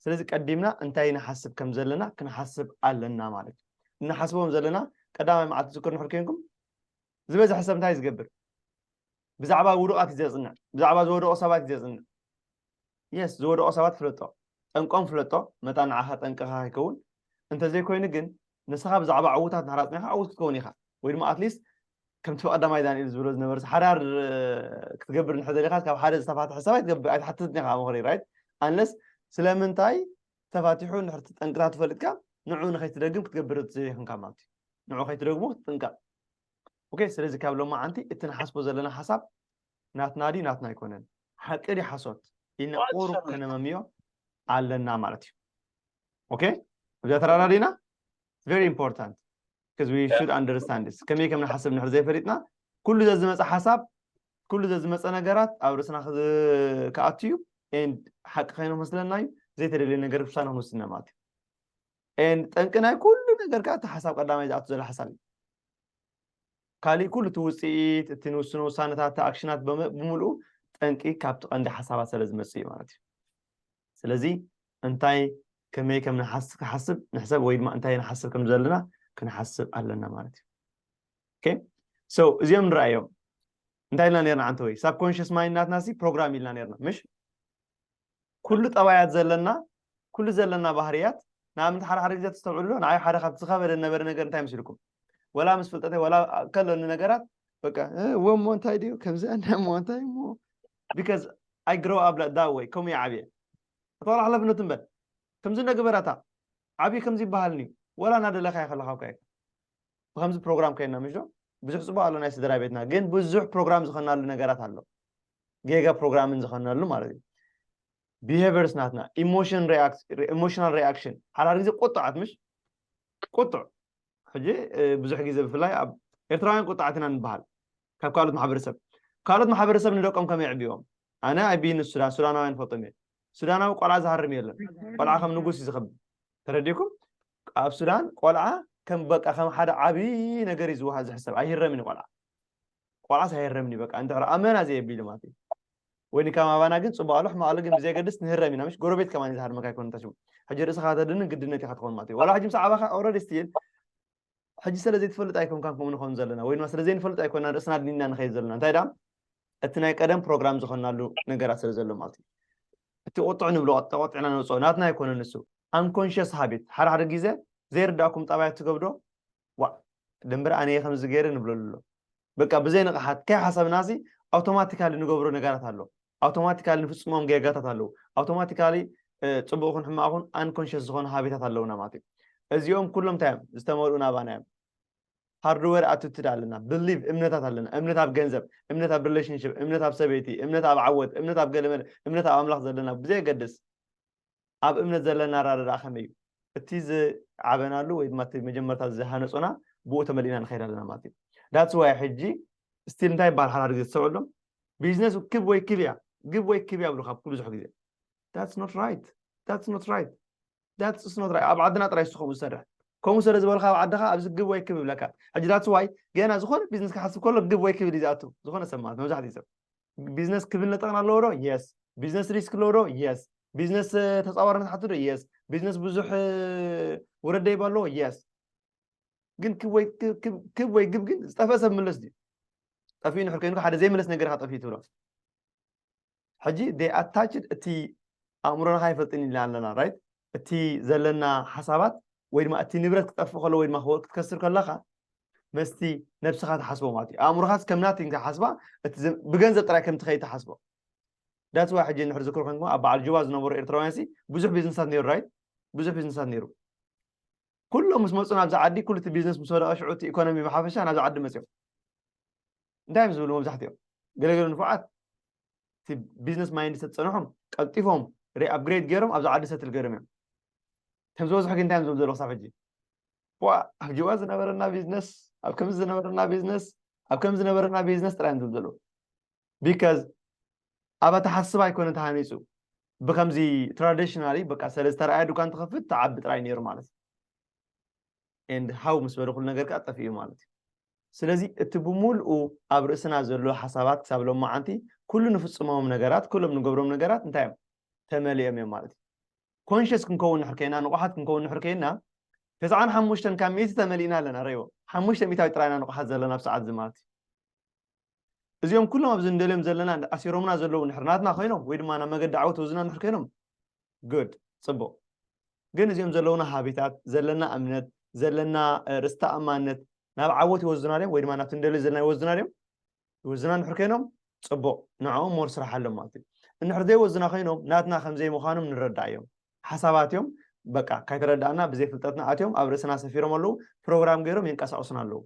ስለዚ ቀዲምና እንታይ ንሓስብ ከም ዘለና ክንሓስብ ኣለና ማለት እዩ እንሓስቦም ዘለና ቀዳማይ መዓልቲ ዝክር ንሕር ኮንኩም ዝበዝሐ ሰብ እንታይ ዝገብር ብዛዕባ ውዱቃት እዩ ዘፅንዕ ብዛዕባ ዝወደቁ ሰባት እዩ ዘፅንዕ Yes ዝወደቑ ሰባት ፍለጦ፣ ጠንቆም ፍለጦ፣ መታ ንዓኻ ጠንቅኻ ከይከውን፣ እንተዘይኮይኑ ግን ንስኻ ብዛዕባ ዕዉታት እንድሕር ኣጽኒዕካ ዕዉት ክትከውን ኢኻ፣ ወይ ድማ ኣትሊስት ከምቲ ብቐዳማይ ዳንኤል ዝብሎ ዝነበርስ ሓዳር ክትገብር እንድሕር ደሊኻስ ካብ ሓደ ዝተፋትሐ ሰብ ኣይትገብር ኣይትሓትትን ኢኻ ምኽሪ ራይት ኣንለስ ስለምንታይ ተፋቲሑ እንድሕር ጠንቅታቱ ፈሊጥካ ንዑ ንኸይትደግም ክትገብር ዘይክንካ ማለት እዩ ንዑ ከይትደግሞ ክትጥንቀቕ ኦኬ ስለዚ ካብ ሎማዓንቲ እቲ ንሓስቦ ዘለና ሓሳብ ናትና ድዩ ናትና ኣይኮነን፣ ሓቂ ድዩ ሓሶት ኢልና ቁሩብ ከነመምዮ ኣለና ማለት እዩ። ኦኬ እብዚኣ ተራዳዲና ቨሪ ኢምፖርታንት because we should understand this ከመይ ከም ንሓስብ ንሕር ዘይፈሊጥና ኩሉ ዘዝመፀ ሓሳብ ኩሉ ዘዝመፀ ነገራት ኣብ ርእስና ክኣቱ እዩ ኤንድ ሓቂ ከይኑ መስለና እዩ ዘይተደልየ ነገር ክሳ ንክንውስድና ማለት እዩ ኤንድ ጠንቂ ናይ ኩሉ ነገር ከዓ እቲ ሓሳብ ቀዳማይ ዝኣቱ ዘሎ ሓሳብ እዩ ካሊእ ኩሉ እቲ ውፅኢት፣ እቲ ንውስኖ ውሳነታት፣ እቲ ኣክሽናት ብምልኡ ጠንቂ ካብቲ ቀንዲ ሓሳባት ሰለዝመፅእ እዩ ማለት እዩ። ስለዚ እንታይ ከመይ ከም ንሓስብ ንሕሰብ ወይ ድማ እንታይ ንሓስብ ከም ዘለና ክንሓስብ ኣለና ማለት እዩ። ኦኬ ሶ እዚኦም ንረኣዮም እንታይ ኢልና ነርና ዓንተወይ ሳብኮንሽስ ማይንድ ናትና ሲ ፕሮግራም ኢልና ነርና ምሽ ኩሉ ጠባያት ዘለና ኩሉ ዘለና ባህርያት ንኣብነት ሓደ ሓደ ግዜ ተስተውዕሉ ንዓይ ሓደ ካብቲ ዝኸበደ ነበረ ነገር እንታይ መስልኩም ወላ ምስ ፍልጠተይ ወላ ከለኒ ነገራት በቃ እሞ እንታይ ድዩ ከምዚ ኣነ እሞ እንታይ እሞ ቢካዝ ኣይ ግሮ ኣብ ላይክ ዳት ወይ ከምኡ ይዓብየ እታወላ ሓላፍነት እምበር ከምዚ ነገበራታ ዓብዪ ከምዚ ይበሃልኒ ወላ እናደለካ ይኸለካ እኳ ይከ ብከምዚ ፕሮግራም ከይና ምሽ ብዙሕ ፅቡቅ ኣሎ ናይ ስድራ ቤትና ግን ብዙሕ ፕሮግራም ዝኸናሉ ነገራት ኣሎ ጌጋ ፕሮግራምን ዝኸነሉ ማለት እዩ ቢሄቨርስ ናትና ኢሞሽናል ሪኣክሽን ሓዳር ግዜ ቁጥዓት ምሽ ቁጥዕ ሕጂ ብዙሕ ግዜ ብፍላይ ኣብ ኤርትራውያን ቁጥዓት ኢና ንበሃል ካብ ካልኦት ማሕበረሰብ ካልኦት ማሕበረሰብ ንደቆም ከመይ የዕብዎም ኣነ ኣይብይን ሱዳን ሱዳናውያን ፈልጦም እየ ሱዳናዊ ቆልዓ ዝሃርም የለን ቆልዓ ከም ንጉስ እዩ ዝኸብር ተረዲኩም ኣብ ሱዳን ቆልዓ ከም በቃ ከም ሓደ ዓብዪ ነገር እዩ ዝውሃ ዝሕሰብ ኣይህረምን ቆልዓ ቆልዓስ ኣይህረምን እዩ በቃ እንድሕር ኣመና ዘየቢሉ ማለት እዩ ወይ ንካም ኣባና ግን ፅቡቅ ኣሎ ሕማቅ ኣሎ ግን ብዘየገድስ ንህረም ኢና ምሽ ጎረቤት ከማን እዩ ዝሃርመካ ኣይኮነ እንታ ሽሙ ሕጂ ርእስኻ ተድንን ግድነት ኢኻ ትኸውን ማለት እዩ ዋላ ሕጂ ምስ ዓባኻ ኦልሬዲ ስቲል ሕጂ ስለ ዘይትፈልጥ ኣይኮንካን ከምኡ ንኸውን ዘለና ወይ ድማ ስለ ዘይንፈልጥ ኣይኮና ርእስና ኣድኒና ንኸይድ ዘለና እንታይ ደኣ እቲ ናይ ቀደም ፕሮግራም ዝኾናሉ ነገራት ስለ ዘሎ ማለት እዩ እቲ ቁጥዕ ንብሎ ተቆጢዕና ነውፅኦ ናትና ኣይኮነ ንሱ ኣንኮንሽስ ሃቢት ሓደ ሓደ ግዜ ዘይርዳእኩም ጠባያት ትገብዶ ዋእ ደምበረ ኣነየ ከምዚ ገይረ ንብለሉ ኣሎ በቃ ብዘይ ንቕሓት ከይሓሰብናሲ ኣውቶማቲካሊ ንገብሮ ነገራት ኣሎ ኣውቶማቲካሊ ንፍፅሞም ጌጋታት ኣለዉ ኣውቶማቲካሊ ፅቡቅ ይኹን ሕማቅ ይኹን ኣንኮንሽስ ዝኾኑ ሃቢታት ኣለውና ማለት እዩ እዚኦም ኩሎም እንታይ እዮም ዝተመልኡ ናባና እዮም ሃርድዌር ኣትትድ ኣለና ብሊቭ እምነታት ኣለና እምነት ኣብ ገንዘብ እምነት ኣብ ሪሌሽንሽፕ እምነት ኣብ ሰበይቲ እምነት ኣብ ዓወት እምነት ኣብ ገለመለ እምነት ኣብ ኣምላኽ ዘለና ብዘየገድስ ኣብ እምነት ዘለና ኣረዳድኣ ከመይ እዩ? እቲ ዝዓበናሉ ወይ ድማ እቲ መጀመርታ ዝሃነጹና ብኡ ተመሊእና ንኸይድ ኣለና ማለት እዩ። That's why ሕጂ ስቲል እንታይ ይበሃል ሓዳር ግዜ ትሰምዕሉ ቢዝነስ ክብ ወይ ክብ እያ ግብ ወይ ክብ እያ ብሉካ ብዙሕ ግዜ That's not right That's not right That's not right ኣብ ዓድና ጥራይ ስኸምኡ ዝሰርሕ ከምኡ ስለ ዝበልካ ኣብ ዓድኻ ኣብዚ ግብ ወይ ክብ ይብለካ ሕጂ ዳትስ ዋይ ገና ዝኾነ ቢዝነስ ክሓስብ ከሎ ግብ ወይ ክብል እዩ ዝኣቱ ዝኾነ ሰብ ማለት መብዛሕትኡ ሰብ ቢዝነስ ክብል ነጠቕን ኣለዎ ዶ የስ ቢዝነስ ሪስክ ኣለዎ ዶ የስ ቢዝነስ ተፃዋርነት ሓቱ ዶ የስ ቢዝነስ ብዙሕ ወረድ ደይባ ኣለዎ የስ ግን ክብ ወይ ክብ ወይ ግብ ግን ዝጠፍአ ሰብ ምለስ ድዩ ጠፍኡ ንሕር ኮይኑ ሓደ ዘይምለስ ነገር ኢኻ ጠፍኡ ትብሎ ሕጂ ደይ ኣታችድ እቲ ኣእምሮና ይፈልጥን ኢልና ኣለና ራይት እቲ ዘለና ሓሳባት ወይ ድማ እቲ ንብረት ክጠፍእ ከሎ ወይ ድማ ክትከስር ከለኻ መስቲ ነብስኻ ትሓስቦ ማለት እዩ ኣእምሮኻስ ከም ናቲንግ ትሓስባ እቲ ብገንዘብ ጥራይ ከምቲ ከይትሓስቦ ዳት ዋ ሕጂ ንሕር ዝክሩ ኮንኩም ኣብ በዓል ጁባ ዝነበሩ ኤርትራውያን ሲ ብዙሕ ቢዝነሳት ነይሩ ራይት ብዙሕ ቢዝነሳት ነይሩ ኩሎም ምስ መፁ ናብዚ ዓዲ ኩሉ እቲ ቢዝነስ ምስ ወደቐ ሽዑ እቲ ኢኮኖሚ ብሓፈሻ ናብዚ ዓዲ መፅኦም እንታይ እዮም ዝብሉ መብዛሕትኦም ገለገለ ንፉዓት እቲ ቢዝነስ ማይንድ ሴት ዝጸንሑ ቀልጢፎም ሪኣፕግሬድ ገይሮም ኣብዛ ዓዲ ሰትል ገይሮም እዮም ከም ዝበዝሑ ግን እንታይ እዮም ዝብሉ ዘለዉ ክሳብ ሕጂ ዋ ኣብ ጅዋ ዝነበረና ቢዝነስ ኣብ ከምዚ ዝነበረና ቢዝነስ ኣብ ከምዚ ዝነበረና ቢዝነስ ጥራይ እዮም ዝብሉ ዘለዉ ቢካዝ ኣብ ኣተሓስባ ኣይኮነ ተሃኒፁ ብከምዚ ትራዲሽናሊ በቃ ሰለ ዝተረኣየ ዱካን ትኸፍት ትዓቢ ጥራይ ነይሩ ማለት እዩ ኤንድ ሃው ምስ በለ ኩሉ ነገር ከዓ ጠፊኡ ማለት እዩ ስለዚ እቲ ብምሉኡ ኣብ ርእስና ዘሎ ሓሳባት ክሳብ ሎማዓንቲ ኩሉ ንፍጽሞም ነገራት ኩሎም ንገብሮም ነገራት እንታይ እዮም ተመሊኦም እዮም ማለት እዩ ኮንሽስ ክንከውን ንሕር ከይና ንቑሓት ክንከውን ንሕር ከይና ተስዓን ሓሙሽተን ካብ ሚእቲ ተመሊእና ኣለና ረእዎ ሓሙሽተ ሚእታዊ ጥራይና ንቑሓት ዘለና ኣብ ሰዓት እዚ ማለት እዩ እዚኦም ኩሎም ኣብዚ ንደልዮም ዘለና ኣሲሮምና ዘለዉ እንድሕር ናትና ኮይኖም ወይ ድማ ናብ መገዲ ዓወት ወዝና እንድሕር ኮይኖም good ጽቡቕ ግን እዚኦም ዘለዉና ሃቢታት ዘለና እምነት ዘለና ርእስ ተኣማንነት ናብ ዓወት ይወዝና ድዮም ወይ ድማ ናብቲ ንደልዮ ዘለና ይወዝና ድዮም ይወዝና እንድሕር ኮይኖም ጽቡቕ ንዕኦም ሞር ስራሕ ኣሎ ማለት እዩ እንድሕር ዘይወዝና ኮይኖም ናትና ከም ዘይምዃኖም ንረዳእ እዮም ሓሳባት እዮም በቃ ካይተረዳእና ብዘይ ፍልጠትና ኣትዮም ኣብ ርእስና ሰፊሮም ኣለዉ ፕሮግራም ገይሮም የንቀሳቕሱና ኣለዉ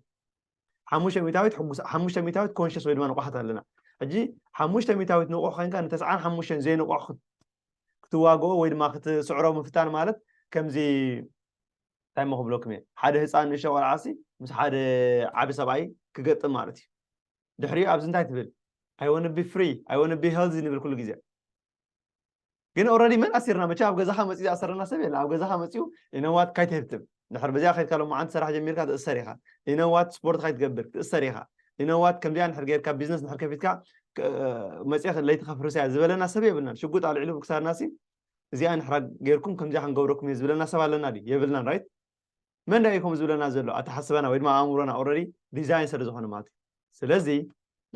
ሓሙሽተ ሚታዊት ሕጉስ ሓሙሽተ ሚታዊት ኮንሽስ ወይ ድማ ንቑሓት ኣለና ሕጂ ሓሙሽተ ሚታዊት ንቑሕ ኮንካ ንተስዓን ሓሙሽተን ዘይንቑሕ ክትዋግኦ ወይ ድማ ክትስዕሮ ምፍታን ማለት ከምዚ እንታይ ሞ ክብለኩም እየ ሓደ ህፃን ንእሽተ ቆልዓሲ ምስ ሓደ ዓቢ ሰብኣይ ክገጥም ማለት እዩ ድሕሪኡ ኣብዚ እንታይ ትብል ኣይወንቢ ፍሪ ኣይወንቢ ሄልዚ ንብል ኩሉ ግዜ ግን ኦረዲ መን ኣሲርና መቸ ኣብ ገዛኻ መፅኡ ዝኣሰረና ሰብ የለ ኣብ ገዛኻ መፅኡ ኢነዋት ካይትህብትም ድሕር በዚኣ ከድካ ሎማዓንቲ ሰራሕ ጀሚርካ ትእሰር ኢኻ ኢነዋት ስፖርት ካይትገብር ትእሰር ኢኻ ኢነዋት ከምዚኣ ንድሕር ጌርካ ቢዝነስ ንድሕር ከፊትካ መፅእ ለይቲ ከፍርስ እያ ዝበለና ሰብ የብልናን ሽጉጥ ኣልዒሉ ክሳርና ሲ እዚኣ ንሕራ ጌርኩም ከምዚኣ ክንገብረኩም እየ ዝብለና ሰብ ኣለና ድዩ የብልናን ራይት መን ድኣ እዩ ከምኡ ዝብለና ዘሎ ኣተሓስባና ወይ ድማ ኣእምሮና ኦረዲ ዲዛይን ስለ ዝኾነ ማለት እዩ ስለዚ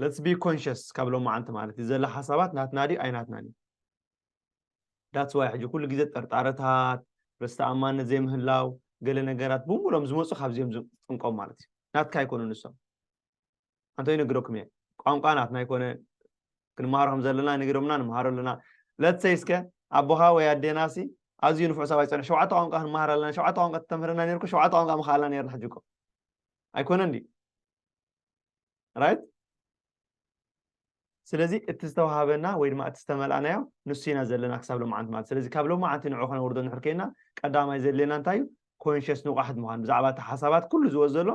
ለትስ ቢ ኮንሽስ ካብ ሎማዓንቲ ማለት እዩ ዘሎ ሓሳባት ናትና ድዩ ኣይናትናን እዩ ዳትስ ዋይ ሕጂ ኩሉ ግዜ ጠርጣረታት ርስተኣማነት ዘይምህላው ገለ ነገራት ብምሎም ዝመፁ ካብዚኦም ዝጥንቆም ማለት እዩ ናትካ ኣይኮኑ ንሶም ኣንተ ይነግረኩም እየ ቋንቋ ናትና ኣይኮነ ክንመሃሮ ከም ዘለና ይነግሮምና ንመሃሮ ኣለና let's say እስከ ኣቦኻ ወይ ኣዴና ሲ ኣዝዩ ንፉዕ ሰብኣይ ፀንሕ ሸውዓተ ቋንቋ ክንመሃር ኣለና ሸውዓተ ቋንቋ ተተምህረና ነርኩ ሸውዓተ ቋንቋ ምኸኣልና ነርና ሕጂ እኮ ኣይኮነን ድዩ ራይት ስለዚ እቲ ዝተዋሃበና ወይ ድማ እቲ ዝተመልኣናዮ ንሱ ኢና ዘለና ክሳብ ሎማዓንቲ ማለት ስለዚ ካብ ሎማዓንቲ ንዑ ከነውርዶ ንድሕር ኮይና ቀዳማይ ዘድልየና እንታይ እዩ ኮንሽስ ንቑሓት ምዃን ብዛዕባ እቲ ሓሳባት ኩሉ ዝወ ዘሎ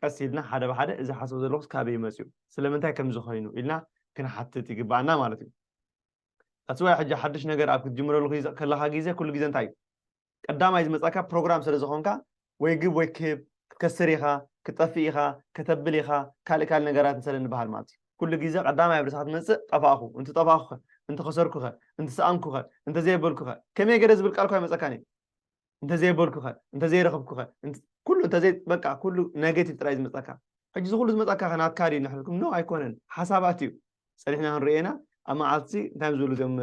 ቀስ ኢልና ሓደ ብሓደ እዚ ሓስብ ዘለኹስ ካበይ መፅኡ ስለምንታይ ከምዚ ኮይኑ ኢልና ክንሓትት ይግባኣና ማለት እዩ ኣስዋይ ሕጂ ሓድሽ ነገር ኣብ ክትጅምረሉ ከለካ ግዜ ኩሉ ግዜ እንታይ እዩ ቀዳማይ ዝመጻካ ፕሮግራም ስለ ዝኾንካ ወይ ግብ ወይ ክብ ክትከስር ኢኻ ክትጠፍእ ኢኻ ከተብል ኢኻ ካልእ ካልእ ነገራትን ሰለ ንበሃል ማለት እዩ ኩሉ ግዜ ቀዳማይ ኣብርሳ ክትመጽእ ጠፋእኹ እንት ጠፋእኹኸ እንት ኸሰርኩኸ እንት ሰኣንኩኸ እንተ ዘየበልኩኸ ከመይ ገደ ዝብል ቃል እኳ ኣይመጸካን እዩ እንተ ዘየበልኩኸ እንተ ዘይረኸብኩኸ ኩሉ እንተ ዘይ በቃ ኩሉ ነገቲቭ ጥራይ ዝመጻካ ሕጂ ዝኹሉ ዝመጻካ ከ ናትካ ድዩ ንሕልኩም ኖ ኣይኮነን ሓሳባት እዩ ጸኒሕና ክንርኤና ኣብ መዓልቲ እንታይ ዝብሉ ዞም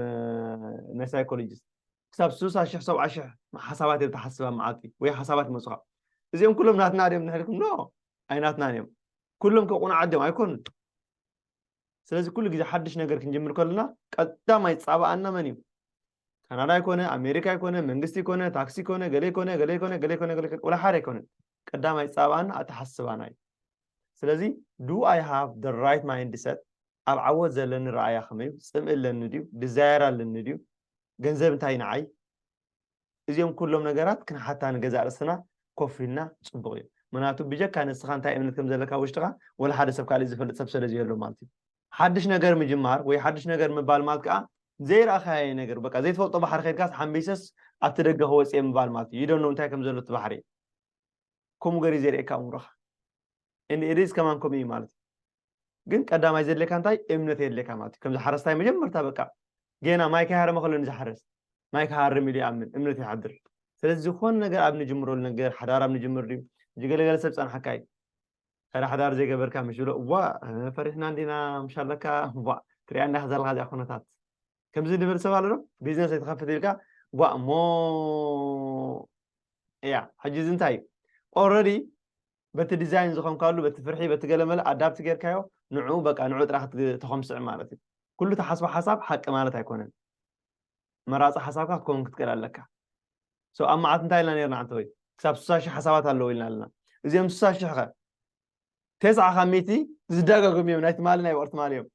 ናይ ሳይኮሎጂስት ክሳብ ስሳ ሽሕ ሰብዓ ሽሕ ሓሳባት እዮም ትሓስብ ኣብ መዓልቲ ወይ ሓሳባት ይመፁኻ እዚኦም ኩሎም ናትና ድዮም ንሕልኩም ኖ ኣይናትናን እዮም ኩሎም ከም ቁኑዓት ድዮም ኣይኮኑን ስለዚ ኩሉ ግዜ ሓድሽ ነገር ክንጅምር ከለና ቀዳማይ ፃባኣና መን እዩ ካናዳ ይኮነ ኣሜሪካ ይኮነ መንግስቲ ይኮነ ታክሲ ይኮነ ገለ ይኮነ ገለ ይኮነ ገለ ይኮነ ገለ ወላ ሓደ ኣይኮነን ቀዳማይ ፃባኣና ኣተሓስባና እዩ ስለዚ ዱ ኣይ ሃቭ ደ ራይት ማይንድ ሰት ኣብ ዓወት ዘለኒ ረኣያ ከመይ እዩ ፅምኢ ኣለኒ ድዩ ድዛየር ኣለኒ ድዩ ገንዘብ እንታይ እዩ ንዓይ? እዚኦም ኩሎም ነገራት ክንሓታ ንገዛእ ርእስና ኮፍ ኢልና ጽቡቕ እዩ። ምክንያቱ ብጀካ ንስኻ እንታይ እምነት ከም ዘለካ ኣብ ውሽጥኻ ወላ ሓደ ሰብ ካልእ ዝፈልጥ ሰብ ሰለ ዘየሎ ማለት እዩ። ሓድሽ ነገር ምጅማር ወይ ሓድሽ ነገር ምባል ማለት ከኣ ዘይረኣኻዬ ነገር በቃ ዘይትፈልጦ ባሕሪ ከድካስ ሓምቢሰስ ኣብቲ ደገ ክወጽ እየ ምባል ማለት እዩ። You don't know እንታይ ከም ዘሎ እቲ ባሕሪ። ከምኡ ገር እዩ ዘርእየካ ኣእምሮኻ። And it is ከማን ከምኡ እዩ ማለት እዩ። ግን ቀዳማይ ዘድልየካ እንታይ እምነት የድልየካ ማለት እዩ ከምዚ ሓረስታይ መጀመርታ በቃ ጌና ማይ ከይሃረመ ከሎ ንዝሓረስ ማይ ክሃርም ኢሉ ይኣምን እምነት ይሓድር ስለዚ ዝኾነ ነገር ኣብ ንጅምረሉ ነገር ሓዳር ኣብ ንጅምር ድዩ እዚ ገለገለ ሰብ ፀናሕካ እዩ ሕረ ሓዳር ዘይገበርካ ምስ ዝብሎ እዋ ፈሪሕና እንዲና ምሽ ኣለካ እዋ ትሪኣ እንዳ ዘለካ እዚኣ ኩነታት ከምዚ ንብል ሰብ ኣሎ ዶ ቢዝነስ ኣይትኸፍት ኢልካ ጓ እሞ እያ ሕጂ እዚ እንታይ እዩ ኦልረዲ በቲ ዲዛይን ዝኾንካሉ በቲ ፍርሒ በቲ ገለመለ ኣዳፕት ጌርካዮ ንዑ በቃ ንዑ ጥራሕ ተኾምስዕ ማለት እዩ ኩሉ ተሓስቦ ሓሳብ ሓቂ ማለት ኣይኮነን መራፂ ሓሳብካ ክትከውን ክትክእል ኣለካ ሰው ኣብ መዓት እንታይ ኢልና ነርና ዓንተ ወይ ክሳብ ስሳ ሽሕ ሓሳባት ኣለዎ ኢልና ኣለና እዚኦም ስሳ ሽሕ ከ ቴስዓ ካብ ሚእቲ ዝደጋገሙ እዮም ናይ ትማሊ ናይ ወቕቲ ትማሊ እዮም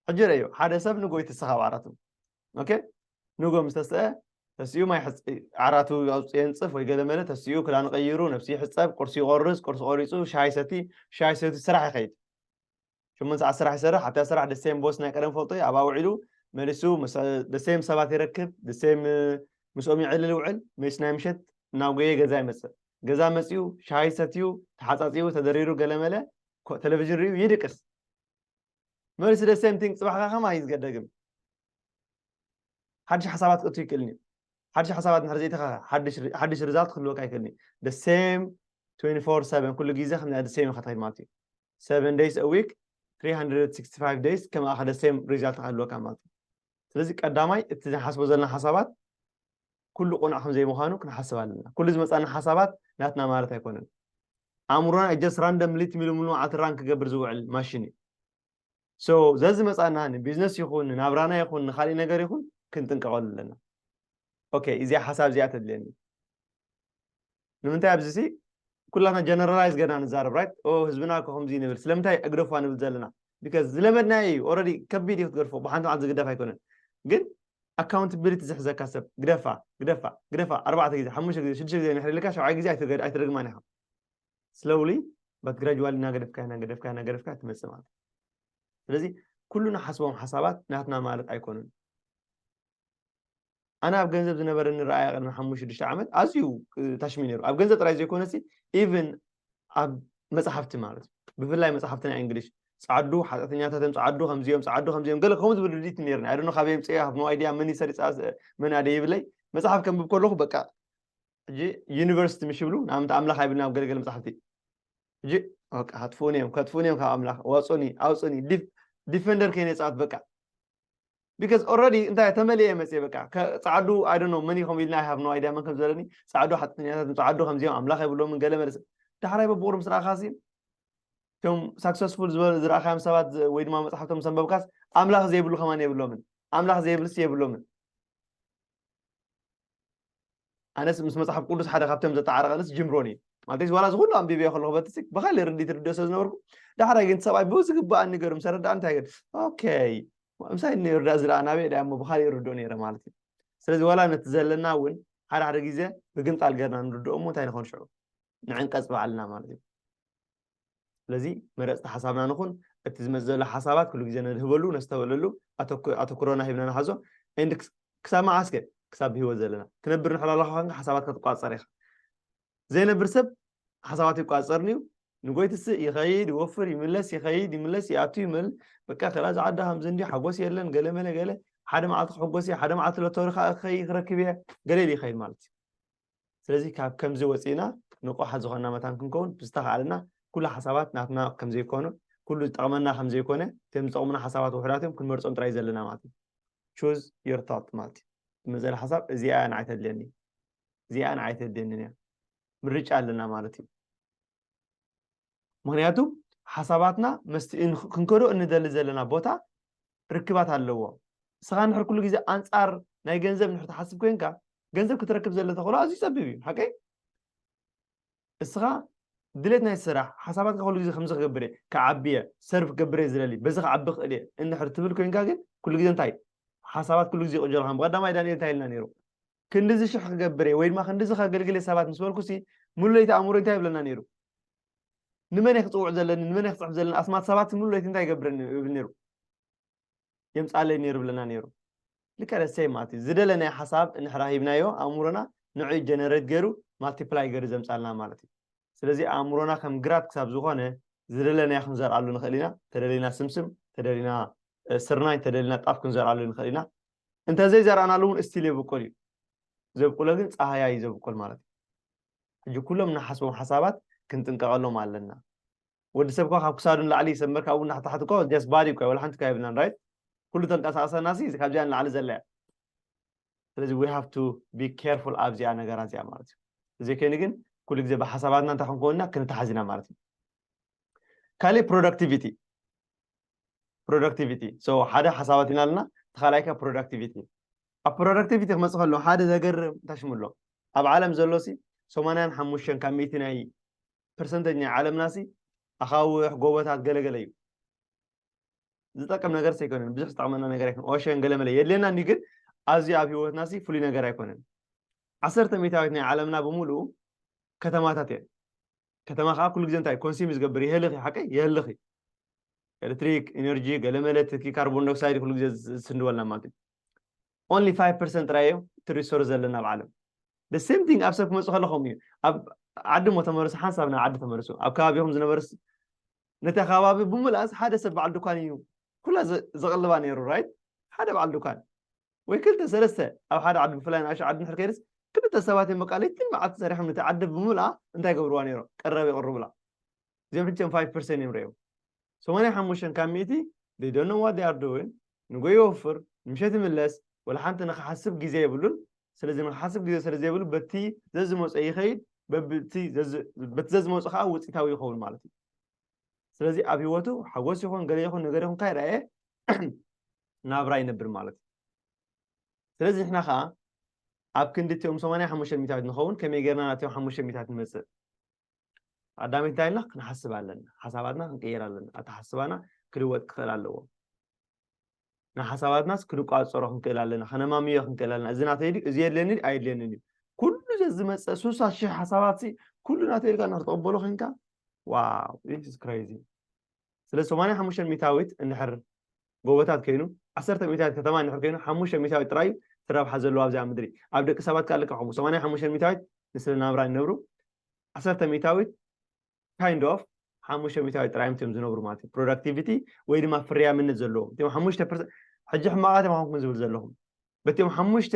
ሕጂ ረዮ ሓደ ሰብ ንጎ ይትስኻብ ዓራቱ ኦኬ ንጎ ምስ ተስአ ተሲኡ ማይ ዓራቱ ኣውፅኦ የንፅፍ ወይ ገለመለ ተሲኡ ክዳን ቀይሩ ነብሲ ይሕፀብ ቁርሲ ይቆርስ ቁርሲ ቆሪፁ ሻሂ ሰቲ ሻሂ ሰቲ ስራሕ ይኸይድ ሽሙን ሰዓት ስራሕ ይሰርሕ ኣብታ ስራሕ ደሴም ቦስ ናይ ቀደም ፈልጦ ኣብኣ ውዒሉ መሊሱ ደሴም ሰባት ይረክብ ደሴም ምስኦም ይዕልል ውዕል ምስ ናይ ምሸት ናብ ጎየ ገዛ ይመፅእ ገዛ መፅኡ ሻሂ ሰትዩ ተሓፃፂቡ ተደሪሩ ገለመለ ቴሌቭዥን ርዩ ይድቅስ መልሲ the same thing ጽባሕ ከ ከማይ ዝገደግም ሓድሽ ሓሳባት ክእቱ ይክእልኒ ሓድሽ ሓሳባት ንድሕር ዘይተኸኸ ሓድሽ ርዛልት ክህልወካ ይክእልኒ the same 24 7 ኩሉ ግዜ ከም the same ኢኻ ትኸይድ ማለት እዩ 7 days a week 365 days ከም ኣኸ the same ሪዛልት ክህልወካ ማለት እዩ ስለዚ ቀዳማይ እቲ ዝሓስቦ ዘለና ሓሳባት ኩሉ ቅኑዕ ከም ዘይምዃኑ ክንሓስብ ኣለና። ኩሉ ዝመጻና ሓሳባት ናትና ማለት ኣይኮነን። ኣእምሮና ኢዝ ጀስት ራንደምሊ ትሚልምሉ መዓልቲ ራን ክገብር ዝውዕል ማሽን እዩ። ሶ ዘዝመጻና ንቢዝነስ ይኹን ንናብራና ይኹን ንኻሊእ ነገር ይኹን ክንጥንቀቐሉ ኣለና። ኦኬ እዚኣ ሓሳብ እዚኣ ተድልየኒ። ንምንታይ ኣብዚ ሲ ኩላትና ጀነራላይዝ ገና ንዛረብ ራይት ኦ ህዝብና እኮ ከምዚ ንብል ስለምንታይ እግደፏ ንብል ዘለና ቢካዝ ዝለመድናዮ እዩ ኦረዲ ከቢድ እዩ ክትገድፎ ብሓንቲ መዓልቲ ዝግደፍ ኣይኮነን ግን ኣካውንታቢሊቲ ዝሕዘካ ሰብ ግደፋ ግደፋ ግደፋ ኣርባዕተ ግዜ ሓሙሽተ ግዜ ሽዱሽተ ግዜ ንሕሪ ኢልካ ሸብዓይ ግዜ ኣይትደግማን ኢኻ ስለውሊ በት ግራጅዋሊ እናገደፍካ እናገደፍካ እናገደፍካ ትመፅእ ማለት ስለዚ ኩሉ ንሓስቦም ሓሳባት ናትና ማለት ኣይኮኑን ኣነ ኣብ ገንዘብ ዝነበረኒ ረኣያ ቅድሚ ሓሙሽተ ሽዱሽተ ዓመት ኣዝዩ ታሽሚ ነይሩ ኣብ ገንዘብ ጥራይ ዘይኮነሲ ኢቨን ኣብ መፅሓፍቲ ማለት እዩ ብፍላይ መፅሓፍቲ ናይ እንግሊሽ ፃዓዱ ሓጢኣተኛታቶም ፃዓዱ ከምዚኦም ፃዓዱ ከምዚኦም ገለ ከምኡ ዝብል ርድኢት ነይርኒ ኣይደኖ ካበይ የምፅኦ ሃብ ኖ ኣይድያ መን ይሰሪፃ መን ኣደይብለይ መፅሓፍ ከንብብ ከለኹ በቃ ሕጂ ዩኒቨርሲቲ ምሽ ይብሉ ንኣብነት ኣምላኽ ኣይብልና ኣብ ገለገለ መፅሓፍቲ ሕጂ በቃ ከጥፍኡኒ እዮም ከጥፍኡኒ እዮም ካብ ኣምላኽ ዋፁኒ ኣውፅኒ ዲፈንደር ከይነፃት በቃ because already እንታይ ተመሊኤ እየ መፅየ በቃ ፃዓዱ I don't know መን ኢኹም ኢልና I have no idea መን ከም ዝበለኒ ፃዓዱ ሓጥኛታት ፃዓዱ ከምዚኦም ኣምላኽ የብሎምን ገለ መለሰ ዳሕራይ በብቑሩብ ምስ ረኣኻሲ እቶም ሳክሰስፉል ዝረኣኻዮም ሰባት ወይ ድማ መፅሓፍቶም ሰንበብካስ ኣምላኽ ዘይብሉ ከማን የብሎምን ኣምላኽ ዘይብልሲ የብሎምን ኣነስ ምስ መፅሓፍ ቅዱስ ሓደ ካብቶም ዘተዓረቐንስ ጅምሮን እዩ ማለት ዋላ ዝኩሉ ኣንቢብዮ ከለኹ በቲ ብካሊ ርዲ ትርድኦ ስለ ዝነበርኩ ዳሕራይ ግን ሰብኣይ ብዝግባእ ንገር ምስ ረዳ እንታይ ግን ኦኬ ምሳይ ንርዳ ዝዳ ናበይ ዳ እሞ ብካሊእ ርድኦ ነይረ ማለት እዩ ስለዚ ዋላ ነቲ ዘለና እውን ሓደ ሓደ ግዜ ብግምጣል ገርና ንርድኦ እሞ እንታይ ንኾን ሽዑ ንዕንቀፅ ባዕልና ማለት እዩ ስለዚ መረፅቲ ሓሳብና ንኹን፣ እቲ ዝመፅእ ዘሎ ሓሳባት ኩሉ ግዜ ነድህበሉ፣ ነስተውዕለሉ፣ ኣተኩሮና ሂብና ንሓዞ and ክሳብ መዓስ ከ ክሳብ ብህይወት ዘለና ትነብር እንድሕር ኣለኻ ኮንካ ሓሳባትካ ትቋፀር ኢኻ። ዘይነብር ሰብ ሓሳባቱ ኣይቋፀርን እዩ፣ ንጎይ ትስእ፣ ይኸይድ፣ ይወፍር፣ ይምለስ፣ ይኸይድ፣ ይምለስ፣ ይኣቱ፣ ይመል በቃ ከላ እዛ ዓዲ ከምዚ እንድዩ፣ ሓጎስ የለን፣ ገለ መለ ገለ፣ ሓደ መዓልቲ ክሕጎስ እየ፣ ሓደ መዓልቲ ሎቶሪ ክረክብ እየ ገለ ኢሉ ይኸይድ ማለት እዩ። ስለዚ ካብ ከምዚ ወጺእና ንቑሓት ዝኾንና መታን ክንከውን ብዝተኻእለና ኩሉ ሓሳባት ናትና ከም ዘይኮኑ ኩሉ ዝጠቕመና ከም ዘይኮነ እቶም ዝጠቕሙና ሓሳባት ውሑዳት እዮም ክንመርጾም ጥራይ ዘለና ማለት እዩ choose your thought ማለት እዩ ትመዘለ ሓሳብ እዚኣ ንዓይ ተድልየኒ እዚኣ ንዓይ ተድልየኒ እያ ምርጫ ኣለና ማለት እዩ ምኽንያቱ ሓሳባትና መስቲ ክንከዶ እንደሊ ዘለና ቦታ ርክባት ኣለዎ ንስኻ ንሕር ኩሉ ግዜ ኣንጻር ናይ ገንዘብ ንሕር ትሓስብ ኮንካ ገንዘብ ክትረክብ ዘለ ተኽእሎ ኣዝዩ ፀቢብ እዩ ሓቀይ እስኻ ድሌት ናይ ስራሕ ሓሳባትካ ኩሉ ግዜ ከምዚ ክገብር እየ ክዓቢ እየ ሰርቭ ክገብር እየ ዝደሊ በዚ ክዓቢ ክእል እየ እንድሕር ትብል ኮይንካ ግን ኩሉ ግዜ እንታይ ሓሳባት ኩሉ ግዜ ይቕጀልካ ቀዳማይ ዳንኤል እንታይ ኢልና ነይሩ ክንድዚ ሽሕ ክገብር እየ ወይ ድማ ክንድዚ ከገልግል እየ ሰባት ምስ በልኩሲ ሙሉ ለይቲ ኣእምሮይ እንታይ ይብለና ነይሩ? ንመን እየ ክፅውዕ ዘለኒ ንመን እየ ክፅሕፍ ዘለኒ ኣስማት ሰባት ሙሉ ለይቲ እንታይ ይገብር ይብል ነይሩ የምፃለይ ነይሩ ይብለና ነይሩ ልክዕ ደሰይ ማለት እዩ ዝደለናዮ ሓሳብ እንሕራ ሂብናዮ ኣእምሮና ንዕኡ ጀነሬት ገይሩ ማልቲፕላይ ገይሩ ዘምፃልና ማለት እዩ ስለዚ ኣእምሮና ከም ግራት ክሳብ ዝኾነ ዝደለናዮ ክንዘርኣሉ ንኽእል ኢና ተደሊና ስምስም ተደሊና ስርናይ ተደሊና ጣፍ ክንዘርኣሉ ንኽእል ኢና እንተዘይ ዘራእናሉ እውን እስቲል የብቁል እዩ ዘብቁሎ ግን ጻሃያ እዩ ዘብቁል ማለት እዩ ሕጂ ኩሎም ንሓስቦም ሓሳባት ክንጥንቀቐሎም ኣለና ወዲ ሰብ እኳ ካብ ክሳዱ ንላዕሊ ሰብ መርካ እውን ናሕታሕቲ እኳ ጀስ ባዲ እኳ ወላ ሓንቲ እኳ የብልናን ራይት ኩሉ ተንቀሳቐሰና ሲ ካብዚኣ ንላዕሊ ዘላ እያ ስለዚ ዊ ሃቭ ቱ ቢ ኬርፉል ኣብዚኣ ነገራ እዚኣ ማለት እዩ እዚ ከይኒ ግን ኩሉ ግዜ ብሓሳባትና እንታይ ክንከውንና ክንተሓዝ ኢና ማለት እዩ ካልእ ፕሮዳክቲቪቲ ፕሮዳክቲቪቲ ሓደ ሓሳባት ኢና ኣለና እቲ ካልኣይ ከ ፕሮዳክቲቪቲ ኣብ ፕሮዳክቲቪቲ ክመፅእ ከሎ ሓደ ዘገርም ታሽሙ ኣሎ ኣብ ዓለም ዘሎ ሲ ሰማንያን ሓሙሽተን ካብ ሚእቲ ናይ ፐርሰንተጅ ናይ ዓለምና ሲ ኣኻውሕ ጎቦታት ገለገለ እዩ ዝጠቅም ነገር ዘይኮነን ብዙሕ ዝጠቅመና ነገር ኣይኮነ ኦሸን ገለመለ የድልየና እንዲ ግን ኣዝዩ ኣብ ሂወትና ሲ ፍሉይ ነገር ኣይኮነን ዓሰርተ ሚእታዊት ናይ ዓለምና ብምሉኡ ከተማታት እየን ከተማ ከኣ ኩሉ ግዜ እንታይ ኮንስም እዩ ዝገብር የህልኽ እዩ ሓቀይ የህልኽ እዩ ኤሌክትሪክ ኢነርጂ ገለመለ ትኪ ካርቦን ዳይኦክሳይድ ኩሉ ግዜ ዝስንድወልና ማለት እዩ ኦንሊ 5 ፐርሰንት ጥራይ እዮም እቲ ሪሶርስ ዘለና ኣብ ዓለም the same thing ኣብ ሰብ ክመፁ ከሎ ከምኡ እዩ ኣብ ዓዲ እሞ ተመርሱ ሓንሳብ ናብ ዓዲ ተመርሱ ኣብ ከባቢኹም ዝነበርስ ነቲ ከባቢ ብምልኣስ ሓደ ሰብ በዓል ድኳን እዩ ኩላ ዘቕልባ ነይሩ ራይት ሓደ በዓል ድኳን ወይ ክልተ ሰለስተ ኣብ ሓደ ዓዲ ብፍላይ ንኣሽቱ ዓዲ እንድሕር ከይድስ ክልተ ሰባት እዮም በቃ ለይትን መዓልቲ ሰሪሖም ነቲ ዓዲ ብምልኣ እንታይ ገብርዋ ነይሮም ቀረብ የቕርቡላ እዚኦም ሕጂ ከም ፋይቭ ፐርሰን እዮም ረእዮም ሰማንያ ሓሙሽተ ካብ ሚእቲ they don't know what they are doing ንጎ ይወፍር ንምሸት ይምለስ ወላ ሓንቲ ንክሓስብ ግዜ የብሉን ስለዚ ንክሓስብ ግዜ ስለ ዘይብሉ በቲ ዘዝመፆ ይኸይድ በቲ ዘዝመፆ ከዓ ውፅኢታዊ ይኸውን ማለት እዩ ስለዚ ኣብ ሂወቱ ሓጎስ ይኹን ገለ ይኹን ነገር ይኹን ካይረኣየ ናብራ ይነብር ማለት እዩ። ስለዚ ንሕና ከኣ ኣብ ክንዲ እቲኦም ሰማንያ ሓሙሽተ ሚእታዊት ንኸውን ከመይ ጌርና ናብቶም ሓሙሽተ ሚእታዊት ንመጽእ? ቀዳመይቲ እንታይ ኢልና ክንሓስብ ኣለና። ሓሳባትና ክንቅይር ኣለና። ኣተሓስባና ክልወጥ ክኽእል ኣለዎ። ንሓሳባትናስ ክንቋጸሮ ክንክእል ኣለና። ከነማምዮ ክንክእል ኣለና። እዚ ናተይ ድዩ? እዚ የድልየኒ ድዩ? ኣየድልየንን እዩ። ኩሉ ዘዝመጸ ስሳ ሽሕ ሓሳባትሲ ኩሉ ናተይ ኢልካ ንክትቕበሎ ኮንካ ዋው ኢትስ ክሬዚ ስለዚ ሰማንያ ሓሙሽተ ሚታዊት እንድሕር ጎቦታት ከይኑ ዓሰርተ ሚታዊት ከተማ እንድሕር ከይኑ ሓሙሽተ ሚታዊት ጥራይ እዩ እቲ ረብሓ ዘለዎ ኣብዚኣ ምድሪ ኣብ ደቂ ሰባት ከኣ ልክዕ ከምኡ ሰማንያ ሓሙሽተ ሚታዊት ንስለ ናብራ ይነብሩ ዓሰርተ ሚታዊት ካይንድ ኦፍ ሓሙሽተ ሚታዊት ጥራይ እዮም እትዮም ዝነብሩ ማለት እዩ ፕሮዳክቲቪቲ ወይ ድማ ፍርያምነት ዘለዎም እትዮም ሓሙሽተ ፐርሰንት ሕጂ ሕማቓት እዮም ኣኹምኩም ዝብል ዘለኹም በትዮም ሓሙሽተ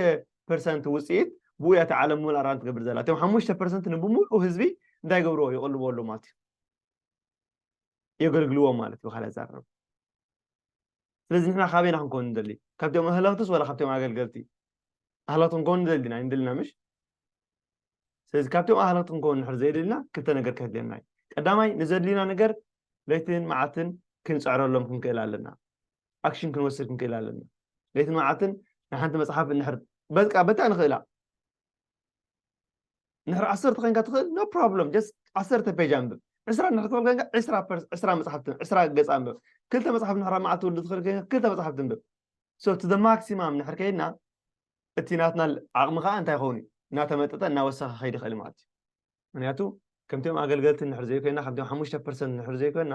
ፐርሰንት ውፅኢት ብኡ እያ እቲ ዓለም ምሉእ ኣራን ትገብር ዘላ እትዮም ሓሙሽተ ፐርሰንት ንብምሉኡ ህዝቢ እንታይ ገብርዎ ይቕልብዎ ኣለዉ ማለት እዩ የገልግልዎም ማለት እዩ ብካልእ ኣዘራርባ ስለዚ ንሕና ካበይና ክንከውን ንደሊ ካብቶም ኣህለኽትስ ዋላ ካብቶም ኣገልገልቲ ኣህለኽቲ ክንከውን ንደሊ ዲና ኣይንደልና ምሽ ስለዚ ካብቶም ኣህለኽቲ ክንከውን ንድሕር ዘይደልና ክልተ ነገር ከድልየና እዩ ቀዳማይ ንዘድልዩና ነገር ለይትን መዓልትን ክንፅዕረሎም ክንክእል ኣለና ኣክሽን ክንወስድ ክንክእል ኣለና ለይትን መዓልትን ንሓንቲ መፅሓፍ እንድሕር በቃ በታ ንኽእላ እንድሕር ዓሰርተ ኮይንካ ትኽእል ኖ ፕሮብሎም ጀስት ዓሰርተ ፔጅ ኣንብብ ዕስራ እንድሕር ትኽእል ኮይንካ ዕስራ ፐርስ ዕስራ መፅሓፍቲ ዕስራ ገፅ ኣንብብ ክልተ መፅሓፍ እንድሕር ኣብ መዓልቲ ትውልድ ትኽእል ኮይንካ ክልተ መፅሓፍቲ ኣንብብ ሶ እቲ ዘ ማክሲማም እንድሕር ከይድና እቲ ናትና ዓቕሚ ከዓ እንታይ ይኸውን እዩ እናተመጠጠ እናወሰኸ ከይድ ይኽእል ማለት እዩ ምክንያቱ ከምቲኦም ኣገልገልቲ ንድሕር ዘይኮይና ከምቲኦም ሓሙሽተ ፐርሰንት ንድሕር ዘይኮይና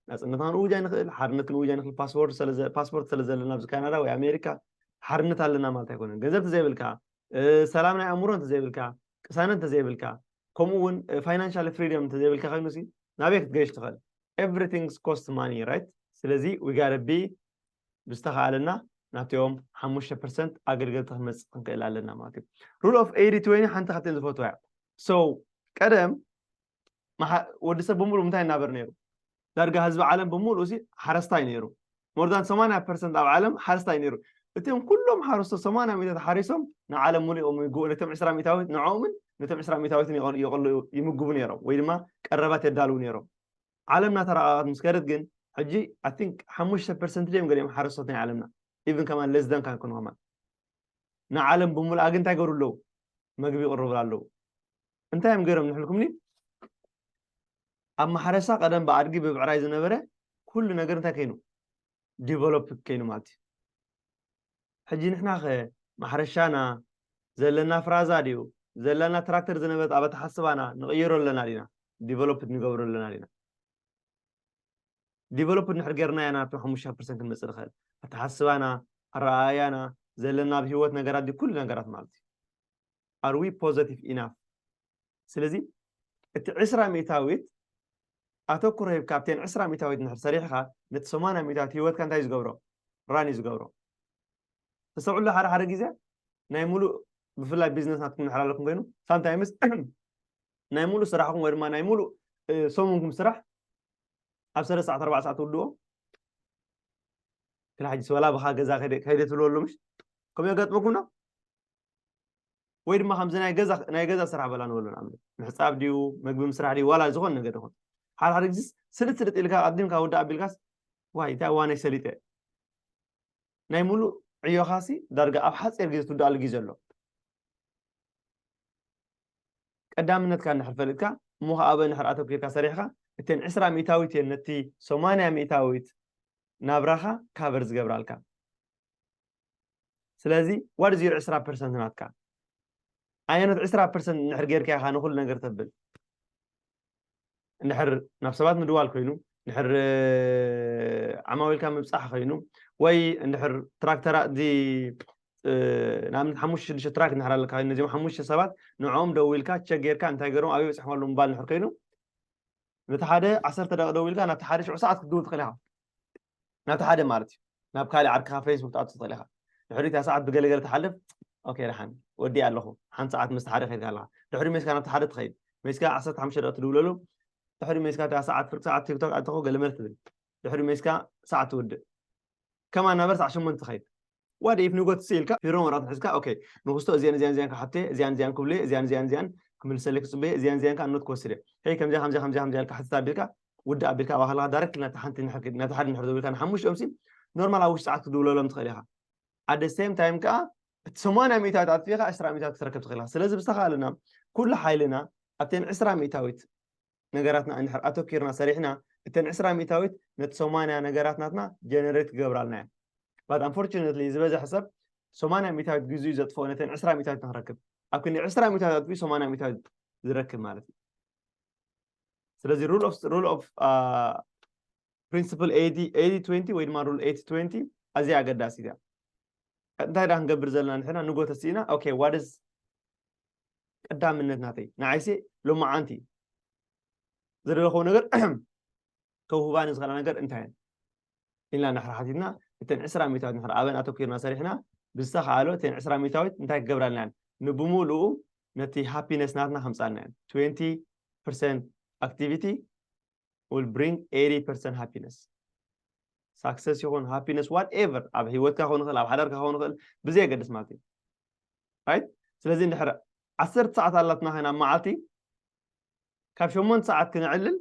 ናፅነትና ክንእውጅ ኣይንኽእል ሓርነት ክንእውጅ ኣይንኽእል ፓስፖርት ስለ ዘለና ኣብዚ ካናዳ ወይ ኣሜሪካ ሓርነት ኣለና ማለት ኣይኮነን ገንዘብ ተዘይብልካ ሰላም ናይ ኣእምሮ እንተዘይብልካ ቅሳነት እንተዘይብልካ ከምኡ እውን ፋይናንሻል ፍሪደም እንተዘይብልካ ኮይኑ ሲ ናበይ ክትገይሽ ትኽእል ኤቭሪቲንግስ ኮስት ማኒ ራይት ስለዚ ዊጋረቢ ብዝተኻእለና ናቶም ሓሙሽተ ፐርሰንት ኣገልገልቲ ክንመፅእ ክንክእል ኣለና ማለት እዩ ሩል ኦፍ ኤይዲ ትወኒ ሓንቲ ካብተን ዝፈትዋ እያ ሶ ቀደም ወዲ ሰብ ብምሉእ እንታይ እናበር ነይሩ ዳርጋ ህዝቢ ዓለም ብምሉእ ሲ ሓረስታይ ነይሩ ሞርዛን ሰማንያ ፐርሰንት ኣብ ዓለም ሓረስታይ ነይሩ እቲም ኩሎም ሓረስቶ ሰማንያ ሚታት ሓሪሶም ንዓለም ሙሉእ እዮም ይምግቡ ነቶም ዕስራ ሚታዊት ንዕኦምን ነቶም ዕስራ ሚታዊትን ይቕሉ ይምግቡ ነይሮም ወይ ድማ ቀረባት የዳልው ነይሮም ዓለም እናተራቐቐት ምስ ከደት ግን ሕጂ ኣይ ቲንክ ሓሙሽተ ፐርሰንት ድዮም ገሊኦም ሓረስቶት ናይ ዓለምና ኢቭን ከማን ለስ ዳን ካን ክንሆማ ንዓለም ብምልኣ ግን እንታይ ይገብሩ ኣለዉ መግቢ ይቕርቡላ ኣለዉ እንታይ እዮም ገይሮም ንሕልኩምኒ ኣብ ማሕረሳ ቀደም ብኣድጊ ብብዕራይ ዝነበረ ኩሉ ነገር እንታይ ከይኑ ዲቨሎፕ ከይኑ ማለት እዩ ሕጂ ንሕና ኸ ማሕረሻና ዘለና ፍራዛ ድዩ ዘለና ትራክተር ዝነበረት ኣብ ኣተሓስባና ንቕይሮ ኣለና ዲና ዲቨሎፕድ ንገብሮ ኣለና ዲና ዲቨሎፕድ ንድሕር ጌርናያ ናብቲ ሓሙሽተ ፐርሰንት ክንመፅእ ንኽእል ኣተሓስባና ኣረኣእያና ዘለና ኣብ ሂወት ነገራት ኩሉ ነገራት ማለት እዩ ኣር ዊ ፖዘቲቭ ኢናፍ? ስለዚ እቲ ዕስራ ሚእታዊት ኣተኩሮ ሂብካ ኣብተን ዕስራ ሚእታዊት እንድሕር ሰሪሕኻ ነቲ ሰማንያ ሚእታዊት ሂወትካ እንታይ እዩ ዝገብሮ ራን እዩ ዝገብሮ ተስተውዕሉ ሓደ ሓደ ግዜ ናይ ሙሉእ ብፍላይ ቢዝነስ ናትኩም ድሕር ኣለኩም ኮይኑ ሳምታይምስ ናይ ሙሉእ ስራሕኩም ወይ ድማ ናይ ሙሉእ ሰሙንኩም ስራሕ ኣብ ሰለስተ ሰዓት ኣርባዕ ሰዓት ትውድዎ ክላ ሕጂ ስበላ ብካ ገዛ ከይደ ትብልወሉ ምሽ ከምኡ የጋጥመኩምና ወይ ድማ ከምዚ ናይ ገዛ ናይ ገዛ ስራሕ በላ ንበሎ ንኣብነት ምሕጻብ ድዩ መግቢ ምስራሕ ድዩ ዋላ ዝኾነ ነገር ይኹን ሓደ ሓደ ግዜስ ስልጥ ስልጥ ኢልካ ኣዲምካ ወዲ ኣቢልካስ ዋይ እንታይ ዋነይ ሰሊጠ ናይ ሙሉእ ዕዮኻሲ ዳርጋ ኣብ ሓፂር ግዜ ትውድኣሉ ግዜ ኣሎ ቀዳምነትካ እንድሕር ፈሊጥካ እሞ ከዓ ኣበ እንድሕር ኣተኪርካ ሰሪሕካ እተን ዕስራ ሚእታዊት እየን ነቲ ሰማንያ ሚእታዊት ናብራኻ ካቨር ዝገብራልካ ስለዚ what is your ዕስራ ፐርሰንት ናትካ ኣየኖት ዕስራ ፐርሰንት እንድሕር ጌርካ ኢኻ ንኹሉ ነገር ተብል እንድሕር ናብ ሰባት ምድዋል ኮይኑ እንድሕር ዓማዊልካ ምብፃሕ ኮይኑ ወይ እንድሕር ትራክተራ እዚ ንኣብነት ሓሙሽተ ሽዱሽተ ትራክ እንድሕር ኣለካ ኮይኑ ነዚኦም ሓሙሽተ ሰባት ንዕኦም ደዊልካ ቸክ ጌርካ እንታይ ገይሮም ኣብይ በፂሖም ኣለዉ ምባል እንድሕር ኮይኑ ነቲ ሓደ ዓሰርተ ደቂ ደዊልካ ናብቲ ሓደ ሽዑ ሰዓት ክትድውል ትኽእል ኢኻ ናብቲ ሓደ ማለት እዩ ናብ ካልእ ዓርክኻ ፌስቡክ ትኣቱ ትኽእል ኢኻ ድሕሪታ ሰዓት ብገለገለ ትሓልፍ ኦኬ ደሓን ወዲ ኣለኹ ሓንቲ ሰዓት ምስ ሓደ ከድካ ኣለኻ ድሕሪ ሜስካ ናብቲ ሓደ ትኸይድ ሜስካ ዓሰርተ ሓሙሽተ ደቂ ትድውለሉ ድሕሪ ሜስካ ዳ ሰዓት ፍርቂ ሰዓት ቲክቶክ ኣተኹ ገለ መልክ ትብል ድሕሪ ሜስካ ሰዓት ትውድእ ከማ ናበር ሰዓት ሸሞንተ ትኸይድ ዋት ኢፍ ንጎት ሲ ኢልካ ፊርማ ወረቐት ሒዝካ ኦኬ ንኹስቶ እዚኣን እዚኣን እዚኣን ክሓቶ እየ እዚኣን እዚኣን ክብሎ እየ እዚኣን እዚኣን እዚኣን ክምልሰለይ ክጽበ እየ እዚኣን እዚኣን ከዓ ኖት ክወስድ እየ ሄይ ከምዚኣ ከምዚኣ ከምዚኣ ከምዚኣ ኢልካ ሕትት ኣቢልካ ውድእ ኣቢልካ ኣባ ከለካ ዳይረክት ናብቲ ሓንቲ ንሕር ክድ ናብቲ ሓደ ንሕር ዘቢልካ ንሓሙሽኦም ሲ ኖርማል ኣብ ውሽጢ ሰዓት ክትድውለሎም ትኽእል ኢኻ ኣደ ሴም ታይም ከዓ እቲ ሰማንያ ሚእታዊት ኣጥፊእኻ ዕስራ ሚእታዊት ክትረክብ ትኽእል ኢኻ ስለዚ ብዝተኻእለና ኩሉ ሓይልና ኣብተን ዕስራ ሚእታዊት ነገራትና እንድሕር ኣተኪርና ሰሪሕና እተን ዕስራ ሚእታዊት ነቲ ሰማንያ ነገራት ናትና ጀነሬት ክገብራልና እየን ባት ኣንፎርቹነትሊ ዝበዝሐ ሰብ ሰማንያ ሚእታዊት ግዜኡ ዘጥፍኦ ነተን ዕስራ ሚእታዊት ንክረክብ ኣብ ክንዲ ዕስራ ሚእታዊት ኣጥፊኡ ሰማንያ ሚእታዊት ዝረክብ ማለት እዩ ስለዚ ሩል ኦፍ ፕሪንስፕል ኤዲ ትንቲ ወይ ድማ ሩል ኤቲ ትንቲ ኣዝያ ኣገዳሲት እያ እንታይ ዳ ክንገብር ዘለና ንሕና ንጎ ተስኢና ኦኬ ዋደስ ቀዳምነት ናተይ ንዓይሴ ሎማዓንቲ ዝደለኸዎ ነገር ከውህባኒ ዝኽእላ ነገር እንታይ እየን ኢልና ንድሕሪ ሓቲትና እተን ዕስራ ሚታዊት ንድሕሪ ኣበን ኣተኲርና ሰሪሕና ብዝተኸኣሎ እተን ዕስራ ሚታዊት እንታይ ክገብራ ኣለና እየን ንብምሉኡ ነቲ ሃፒነስ ናትና ከምፃልና እየን ትዌንቲ ፐርሰንት ኣክቲቪቲ ዊል ብሪንግ ኤይቲ ፐርሰንት ሃፒነስ ሳክሰስ ይኹን ሃፒነስ ዋት ኤቨር ኣብ ሂወትካ ክኸውን ይኽእል ኣብ ሓዳርካ ክኸውን ይኽእል ብዘየገድስ ማለት እዩ ራይት ስለዚ እንድሕር ዓሰርተ ሰዓት ኣላትና ኸይና ኣብ መዓልቲ ካብ ሸሞንተ ሰዓት ክንዕልል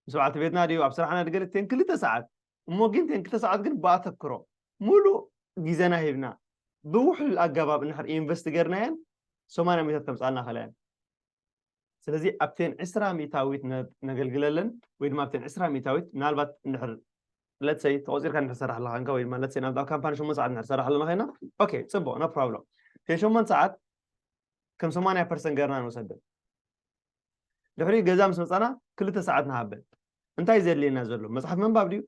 ምስ በዓልቲ ቤትና ድዩ ኣብ ስራሕና ድገለ ተን ክልተ ሰዓት እሞ ግን ተን ክልተ ሰዓት ግን ብኣተክሮ ሙሉእ ግዜና ሂብና ብውሕሉል ኣገባብ እንድሕር ኢንቨስት ገርናየን ሰማንያ ሚታት ከምፅኣልና ኸለየን ስለዚ ኣብተን ዕስራ ሚእታዊት ነገልግለለን ወይ ድማ ኣብተን ዕስራ ሚእታዊት ምናልባት እንድሕር let's say ተቖፂርካ እንድሕር ትሰርሕ ኣለኻ እንካ ወይ ድማ let's say ናብታ ካምፓኒ ሸሞንተ ሰዓት እንድሕር ትሰርሕ ኣለና ኮይና ኦኬ ፅቡቕ ኖ ፕሮብሎም እተን ሸሞንተ ሰዓት ከም ሰማንያ ፐርሰንት ገርና ንውሰደን ድሕሪ ገዛ ምስ መፃና ክልተ ሰዓት ንሃበን እንታይ ዘድልየና ዘሎ መፅሓፍ ምንባብ ድዩ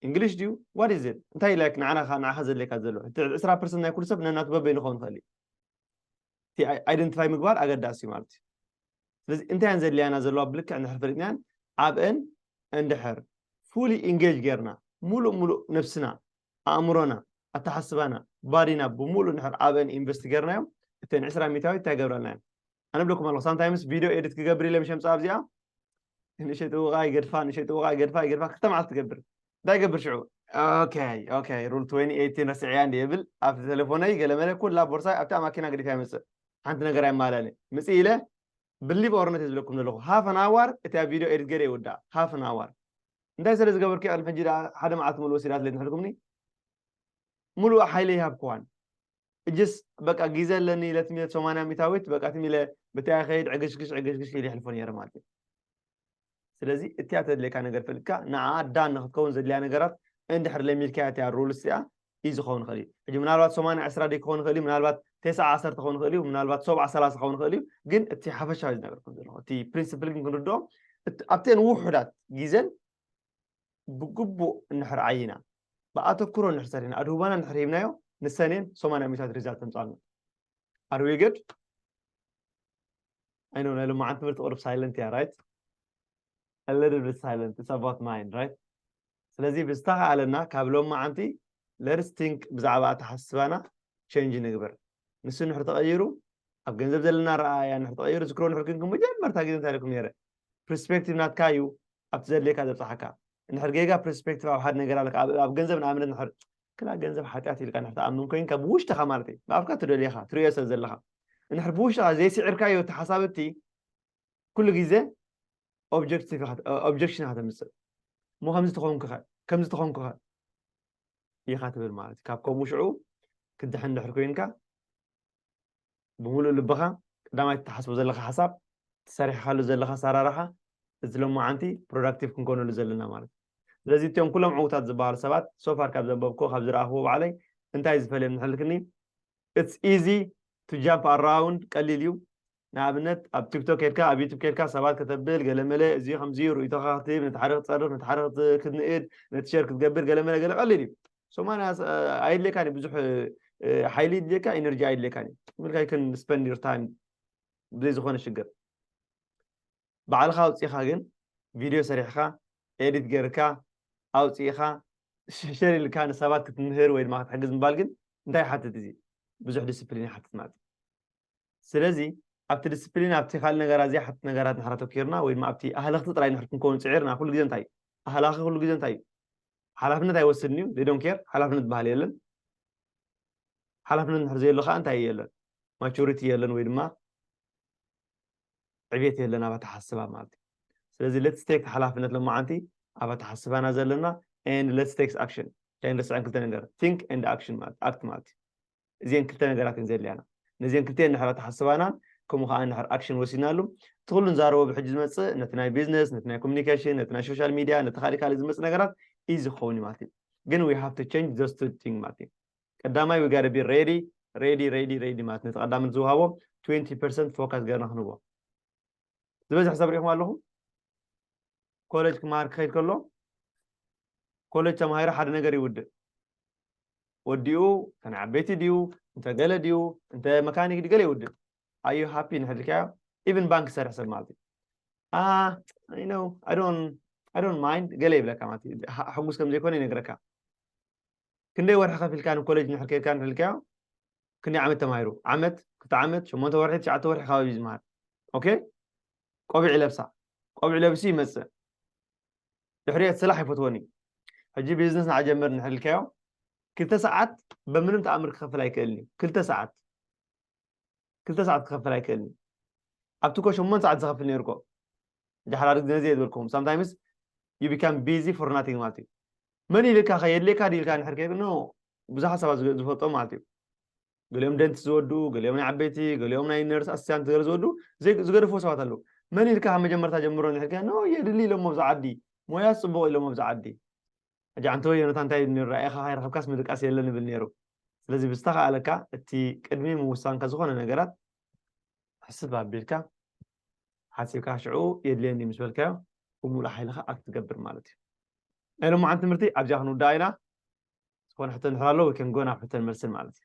እንግሊሽ ድዩ ዋት ኢዝ ኢት እንታይ ላይክ ንዓናኻ ንዓኻ ዘድልየካ ዘሎ እቲ ዕስራ ፐርሰንት ናይ ኩሉ ሰብ ነናቱ በበይኑ ክኸውን ይኽእል እዩ እቲ ኣይደንቲፋይ ምግባር ኣገዳሲ እዩ ማለት እዩ ስለዚ እንታይ እየን ዘድልያና ዘለዋ ብልክዕ እንድሕር ፈሊጥናያን ኣብአን እንድሕር ፉሊ ኢንጌጅ ጌርና ሙሉእ ሙሉእ ነብስና ኣእምሮና ኣተሓስባና ባዲና ብሙሉእ እንድሕር ኣብአን ኢንቨስት ጌርናዮም እተን ዕስራ ሚታዊት እንታይ ገብረልና እየን ኣነ ብለኩም ኣለኹ ሳምታይምስ ቪድዮ ኤዲት ክገብር ኢለ ምሸምፃ ኣብዚኣ ንእሸ ጥውቃ ይገድፋ ንእሸ ጥውቃ ይገድፋ ይገድፋ ክልተ መዓልቲ ትገብር እንታይ ገብር ሽዑ ኦከይ ኦከይ ሩል 2018 ረስዐያ እንዲ እብል ኣብ ቴሌፎነይ ገለመለ ኩላ ቦርሳይ ኣብታ ማኪና ገዲፈ ይመፅእ ሓንቲ ነገር ኣይማላኒ ምፅ ኢለ ብሊቭ ኦር ነት ዝብለኩም ዘለኹ ሃፍ ኣን ኣዋር እቲ ኣብ ቪድዮ ኤዲት ገይረ ይውዳእ ሃፍ ኣን ኣዋር እንታይ ስለ ዝገበርኩ ቅድሚ ሕጂ ሓደ መዓልቲ ሙሉ ወሲዳት ለይ ትሕልኩምኒ ሙሉእ ሓይለ ይሃብክዋን እጅስ በቃ ጊዘ ኣለኒ ኢለ ትም ኢለ ሰማንያ ሚታዊት በቃ ትም ኢለ ብታይ ይኸይድ ዕግሽግሽ ዕግሽግሽ ኢለ ይሕልፎ ነይረ ማለት እዩ ስለዚ እቲያ ተድልየካ ነገር ፈልጥካ ንዓኣ ዳን ንክትከውን ዘድልያ ነገራት እንድሕር ለሚድካያ እቲያ ሩልስ እዚኣ እዩ ዝኸውን ይኽእል እዩ ሕጂ ምናልባት ሰማንያ ዕስራ ደይ ክኸውን ይኽእል እዩ ምናልባት ቴስዓ ዓሰርተ ክኸውን ይኽእል እዩ ምናልባት ሰብዓ ሰላሳ ክኸውን ይኽእል እዩ ግን እቲ ሓፈሻዊ ዝነገርኩም ዘለኹ እቲ ፕሪንስፕል ግን ክንርድኦ ኣብተን ውሑዳት ግዜን ብግቡእ እንድሕር ዓይና፣ ብኣተኩሮ እንድሕር ሰሪሕና፣ ኣድህቦና እንድሕር ሂብናዮ፣ ንሰኔን ሰማንያ ሚእታት ሪዛልት ተምጽኣልና። ኣር ዊ ግድ? ኣይ ኖው ናይ ሎማዓንቲ ትምህርቲ ቁሩብ ሳይለንት እያ ራይት? a little bit silent it's about mine right ስለዚ ብዝተኻኣለና ካብ ሎም መዓንቲ ለርስ ቲንክ ብዛዕባ ኣተሓስባና ቸንጅ ንግበር ንሱ ንሕር ተቐይሩ ኣብ ገንዘብ ዘለና ረኣያ ንሕር ተቐይሩ ዝክሮ ንሕር ክንኩም መጀመርታ ግዜ እንታይ ኢልኩም ነረ ፕርስፔክቲቭ ናትካ እዩ ኣብቲ ዘድልየካ ዘብፅሓካ እንድሕር ጌጋ ፕርስፔክቲቭ ኣብ ሓደ ነገር ኣለካ ኣብ ገንዘብ ንኣብነት ንድሕር ክላ ገንዘብ ሓጢኣት ኢልካ ንድሕር ትኣምን ኮይንካ ብውሽጥኻ ማለት እዩ ብኣፍካ ትደልየኻ ትርእዮ ስለ ዘለኻ እንድሕር ብውሽጥኻ ዘይስዒርካዮ እቲ ሓሳብ እቲ ኩሉ ግዜ ኦብጀክቲቭ ኦብጀክሽን ኢኻ ተምፅእ እሞ ከምዚ ተኾንኩኸ ከምዚ ተኾንኩኸ ኢኻ ትብል ማለት እዩ ካብ ከምኡ ሽዑ ክድሕን ድሕር ኮይንካ ብምሉእ ልብኻ ቀዳማይ ትሓስቦ ዘለኻ ሓሳብ እቲ ሰሪሕኻሉ ዘለኻ ኣሰራርሓ እዚ ሎማዓንቲ ፕሮዳክቲቭ ክንኮነሉ ዘለና ማለት እዩ ስለዚ እትኦም ኩሎም ዕውታት ዝበሃሉ ሰባት ሶፋር ካብ ዘንበብክዎ ካብ ዝረኣኽዎ ባዕለይ እንታይ ዝፈልዮም ንሕልክኒ ኢትስ ኢዚ ቱ ጃምፕ ኣራውንድ ቀሊል እዩ ንኣብነት ኣብ ቲክቶክ ኬድካ ኣብ ዩቱብ ኬድካ ሰባት ከተብል ገለመለ እዚ ከምዚ ርእይቶኻ ክትህብ ነቲ ሓደ ክትፀርፍ ነቲ ሓደ ክትንእድ ነቲ ሸር ክትገብር ገለመለ ገለ ቀሊል እዩ ሰማንያ ኣየድልየካን እዩ ብዙሕ ሓይሊ ይድልየካ ኤነርጂ ኣይድልየካን እዩ ምልካ ይክን ስፐንድ ዩር ታይም ብዘይ ዝኾነ ሽግር ባዕልኻ ኣውፅኢኻ ግን ቪድዮ ሰሪሕኻ ኤዲት ገርካ ኣውፅኢኻ ሸር ኢልካ ንሰባት ክትምህር ወይ ድማ ክትሕግዝ ምባል ግን እንታይ ይሓትት እዚ ብዙሕ ዲስፕሊን ይሓትት ማለት እዩ ስለዚ ኣብቲ ዲስፕሊን ኣብቲ ካልእ ነገራት ዘይሓትት ነገራት ንድሕር ኣተኪርና ወይ ድማ ኣብቲ ኣህለኽቲ ጥራይ ንድሕር ክንከውን ፅዒርና ኩሉ ግዜ እንታይ እዩ ኣህላኺ ኩሉ ግዜ እንታይ እዩ ሓላፍነት ኣይወስድን እዩ ዶን ኬር ሓላፍነት ዝበሃል የለን ሓላፍነት ንድሕር ዘየሎ ከዓ እንታይ የለን ማቹሪቲ የለን ወይ ድማ ዕብየት የለን ኣብ ኣተሓስባ ማለት እዩ ስለዚ ሌትስ ቴክ ሓላፍነት ሎማዓንቲ ኣብ ኣተሓስባና ዘለና ኤንድ ሌትስ ቴክስ ኣክሽን ኣይንርስዐን ክልተ ነገር ቲንክ ኤንድ ኣክሽን ማለት ኣክት ማለት እዩ እዜን ክልተ ነገራት እየን ዘድልያና ነዜን ክልተኤን እንድሕር ተሓስባናን ከምኡ ከዓ እንድሕር ኣክሽን ወሲድናሉ እቲ ኩሉ ንዛረቦ ብሕጂ ዝመፅእ ነቲ ናይ ቢዝነስ ነቲ ናይ ኮሚኒኬሽን ነቲ ናይ ሶሻል ሚድያ ነቲ ካሊእ ካሊእ ዝመፅእ ነገራት እዩ ዝኸውን እዩ ማለት እዩ ግን ዊ ሃቭ ቱ ቸንጅ ዞስ ቱ ቲንግ ማለት እዩ ቀዳማይ ዊ ጋደ ቢ ሬዲ ሬዲ ሬዲ ሬዲ ማለት ነቲ ቀዳምነት ዝውሃቦ 20 ፐርሰንት ፎካስ ገርና ክንህቦ ዝበዝሕ ሰብ ሪኢኹም ኣለኹም ኮሌጅ ክመሃር ክኸይድ ከሎ ኮሌጅ ተማሂሩ ሓደ ነገር ይውድእ ወዲኡ እንተ ንዓበይቲ ድዩ እንተ ገለ ድዩ እንተ መካኒክ ድዩ ገለ ይውድእ ኣዩ ሃፒ ንሕድርካዮ ኢቨን ባንክ ዝሰርሕ ሰብ ማለት እዩ ኖ ኣይዶን ማይንድ ገለ ይብለካ ማለት እዩ ሕጉስ ከም ዘይኮነ ይነግረካ ክንደይ ወርሒ ከፊልካ ንኮሌጅ ንድሕር ከይድካ ንሕልካዮ ክንደይ ዓመት ተማሂሩ ዓመት ክልተ ዓመት ሸሞንተ ወርሒ ትሽዓተ ወርሒ ከባቢ ዝመሃር ኦኬ ቆቢዕ ይለብሳ ቆቢዕ ለብሱ ይመፅእ ድሕሪኦት ስራሕ ኣይፈትዎን እዩ ሕጂ ቢዝነስ ንዓጀምር ንሕልካዮ ክልተ ሰዓት በምንም ተኣምር ክኸፍል ኣይክእልን እዩ ክልተ ሰዓት ክልተ ሰዓት ክኸፍል ኣይክእልን እዩ ኣብቲ ኮ ሸሞንተ ሰዓት ዝኸፍል ነይሩ ኮ ጃሕራር ግዜ ዘየ ዝበልኩም ሳምታይምስ ዩ ቢካም ቢዚ ፎር ናቲንግ ማለት እዩ መን ኢልካ ከ የድልየካ ድኢልካ ንሕር ከ ኖ ብዙሓት ሰባት ዝፈልጦ ማለት እዩ ገሊኦም ደንት ዝወድኡ ገሊኦም ናይ ዓበይቲ ገሊኦም ናይ ነርስ ኣስቲያንት ገለ ዝወድኡ ዝገደፍዎ ሰባት ኣለዉ መን ኢልካ ካብ መጀመርታ ጀምሮ ንሕልካ ኖ የድሊ ኢሎሞ ኣብዚ ዓዲ ሞያ ፅቡቕ ኢሎሞ ኣብዚ ዓዲ ሕጂ ኣንተ ወየነታ እንታይ ነሩ ራእኻ ካይረኸብካስ ምድቃስ የለን ይብል ነይሩ ስለዚ ብዝተኸኣለካ እቲ ቅድሚ ምውሳንካ ዝኾነ ነገራት ሕስብ ኣቢልካ ሓሲብካ ሽዑ የድልየኒ ምስ በልካዮ ብምሉእ ሓይልኻ ኣክትገብር ማለት እዩ ናይ ሎማዓንቲ ትምህርቲ ኣብዚኣ ክንውዳእ ኢና ዝኾነ ሕቶ እንድሕር ኣሎ we can go ናብ ሕቶን መልስን ማለት እዩ።